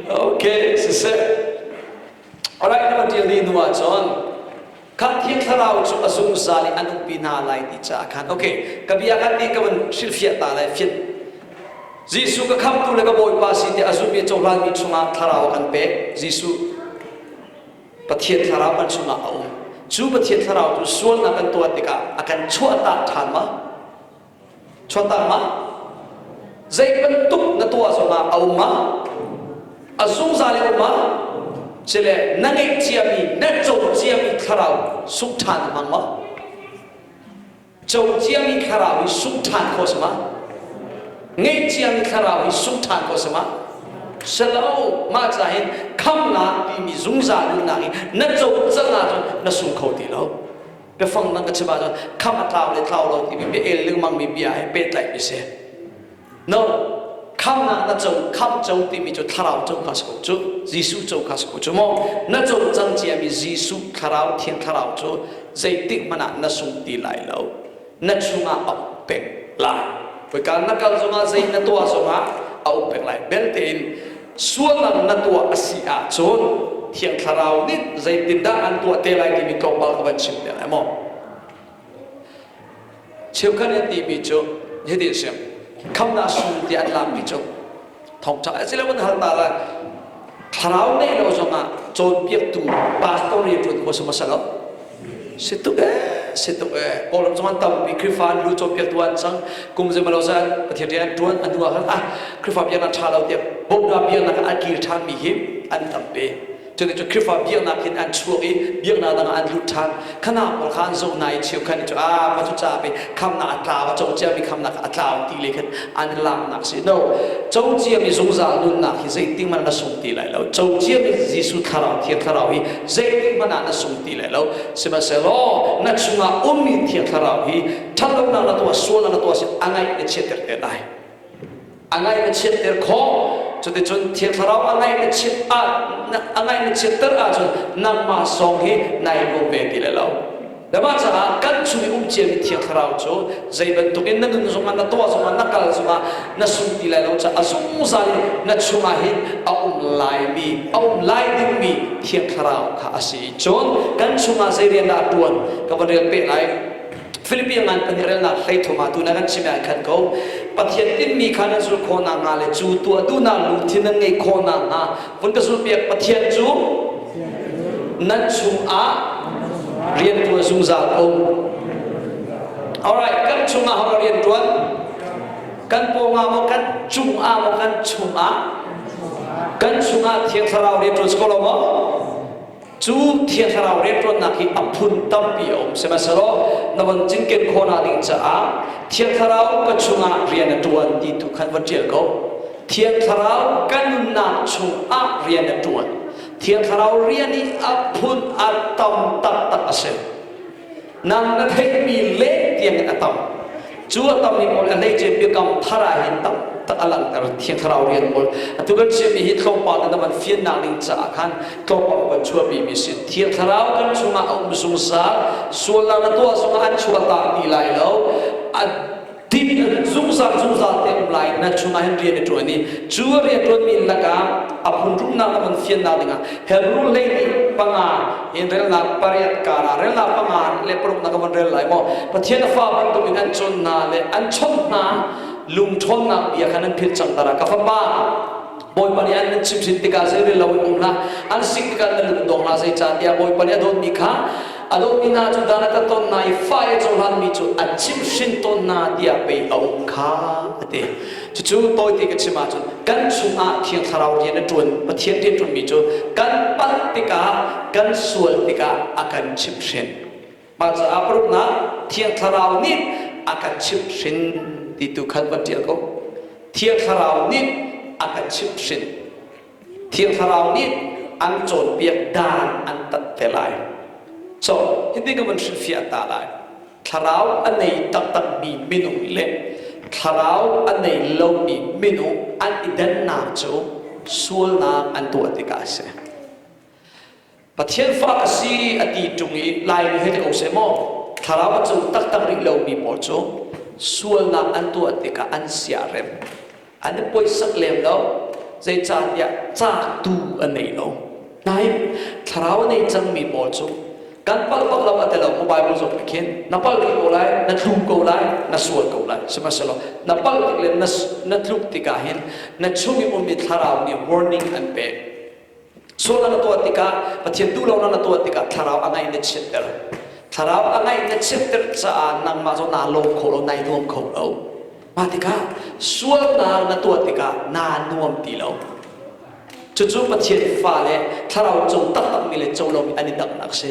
okay si se Alright, na va ṭial dih hnu ahcun khan Thiang Thlarau cu a zungzal i an umpi hna lai ti caah khan ok ka bia khan nih ka van hrilhfiah ta lai fianh Jesuh ka khamtu le ka Bawipa si tiah a zulmi cohlanmi chungah thlarau an pek Jesuh Pathian thlarau kan chungah a um cu Pathian thlarau cu sualnak kan tuah tikah a kan chuahtak ṭhan ma? Chuatam ah zei bantuk na tuah zongah a um ah a zungzal i um ah cile na ngeih ciami na co ciami thlarau sungh ṭhan hmang maw co ciami thlarau hi sungh ṭhan kho sama ngeih ciami thlarau hi sungh ṭhan kho sama selo mah ca hin khamnak timi zungzal nunnak hi na co cang ahcun na sung kho ti lo Biafang dang ka chim ahcun kham a tlau le tlau lo timi bia el lengmangmi bia he pehtlaihmi a si. No, khamnak na co, kham co timi cu thlarau co kha si ko cu. Jesuh co kha si ko cu maw. Na co cang ciami Jesuh thlarau, thiang thlarau cu zeitik hmanh ah na sung ti lai lo. Na chungah a um peng lai. Kawika na kal zongah, zei na tuah zongah a um peng lai. Belte in Sualnak na tuah a si ahcun Thiang Thlarau nih zeitindah an tuah te lai timi tlawmpal ka van chim te lai maw? Cheukhat an timi cu hitin a si, Khamhnak Suu tiah an laakmi cu thawngṭha a si loin hal ta lai. Thlarau ngeih lo zongah cawnpiaktu pastor rianṭuan hmasam a si lo. si tuk ee si tuk ee kawl cung an tam mi krifa lu cho pia tu an sang kum zema lo za pathian rian tuan anu a hal ah krifa bia na tha lo tiap bogda bia na an kir than mi hi an tam pe chune chu krifa bia na kin an chuak i bia na dang an lut than khana par khan zo nai chiu khan chu a pa chu cha pe kham na atla wa cho cha mi kham na atla ti le khan an laknak si no cociami zungzal nunnak hi zeitik hmanh na sung ti lai lo cociami Jesuh thlarau thiang thlarau hi zeitik hmanh ah na sung ti lai lo sihmanhsehlaw na chungah ummi thiang thlarau hi ṭhatlonak na tuah sualnak na tuah si a ngaih na chiatter te lai a ngaih na chiatter khawh cuticun thiang thlarau a ngaih na chiat a ngaih na chiatter ahcun nangmah sawng hi nai ruam ve ti lai lo Na mah caah kan chung i um ciami Thiang Thlarau cu zei bantukin na nun zongah, na tuah zongah, na kal zongah na sung ti lai lo caah a zungzal i na chungah hin a um laimi, a um lai dingmi Thiang Thlarau kha a si. Cun kan chungah zei rian dah a ṭuan ka van rel peh lai. Filipi a ngan pahnih relnak hleithum ah tun ah kan chim i ai khat ko. Pathian tinhmi kha nan zulh khawh nakhnga le cu tuah duhnak lungthin nan ngeih khawh nakhnga vun ka zulpiak Pathian cu nan chungah rianṭuan zungzal a um alright kan chungah hora rian ṭuan kan pawngah maw kan cungah maw kan chungah kan chungah thiang thlarau rian ṭuan si ko lo maw Cu Thiang Thlarau rianṭuannak hi a phun tampi a um, sihmanhsehlaw na von cinken khawh hna ding caah Thiang Thlarau ka chungah rian a ṭuan ti tu kha va ṭial ko. Thiang Thlarau ka nunnak chungah rian a ṭuan. Thiang Thlarau rian i a phun a tam taktak a si. nang na theihmi leng tiang in a tam cu a tam ning ol a lei ce biakam thara hin tak tak a langhter thiang thlarau rian ol atu kan chiami hi tlawmpal na van fian nak ning caah khan tlawmpal kan chuahpi mi si thiang thlarau kan chungah a um zungzal sual na tuah zungah an chuah ta ti lai lo a Typical zungzal zungzal te um lai nan chungah hin rian a ṭuan i cu a rianṭuanmi lakah a phunhrumnak le hmun fiannak dingah Hebrew lady panga in relnak pariat kar ah relnak panga le paruknak a van rel lai maw Pathian a fa bantukin an chawnh hna le an chawnh hna lungṭhawnnak bia kha nan philh cangter ah ka fapa Bawipa nih an nan chim hrin tikah zei rel lo in um hlah, an sik tikah nan lung dong hlah, zei cah tiah Bawipa nih a dawtmi kha a dawtmi hna cu dan a tat tawn hna i fa i cohlanmi cu a chim hrin tawn hna tiah pei a um kha a ti. Cucu tawite ka chim ahcun kan chungah Thiang Thlarau rian a ṭuan, Pathian rian ṭuanmi cu kan palh tikah, kan sual tikah a kan chimh hrin. Mah caah paruknak thiang thlarau nih a kan chimhhrin ti tu kha van ṭial ko. Thiang thlarau nih a kan chimhhrin. Thiang thlarau nih an cawnpiak dan an tat te lai. So, hitin ka van hrilhfiah ta lai. Thlarau a nei taktakmi minung le thlarau a nei lomi minung an i dannak cu sualnak an tuah tikah a si. Pathian fa ka si a ti ṭung i Laimi he ti ko seh maw thlarau a cung taktak rih lomi pawl cu sualnak an tuah tikah an siarem an i poisak lem lo zeicahtiah cahtu a nei lo nain thlarau a nei cangmi pawl cu kan palh bak lo a ti lo mu Bible zong nih khin na palh rih ko lai na tlu ko lai na sual ko lai sihmanhsehlaw na palh tik le na, na tluk tikah hin na chung i um i thlarau nih warning an pek Sual na tuah tikah, Pathian duhlonak na tuah tikah thlarau a ngaih na chiatter. Thlarau a ngaih na chiatter caah nangmah zong naa lawm kho lo, nai nuam kho lo. Mah tikah sualnak na tuah tikah naa nuam ti lo. Cucu Pathian fale thlarau cung tam bangmi le co lomi an i damnak si.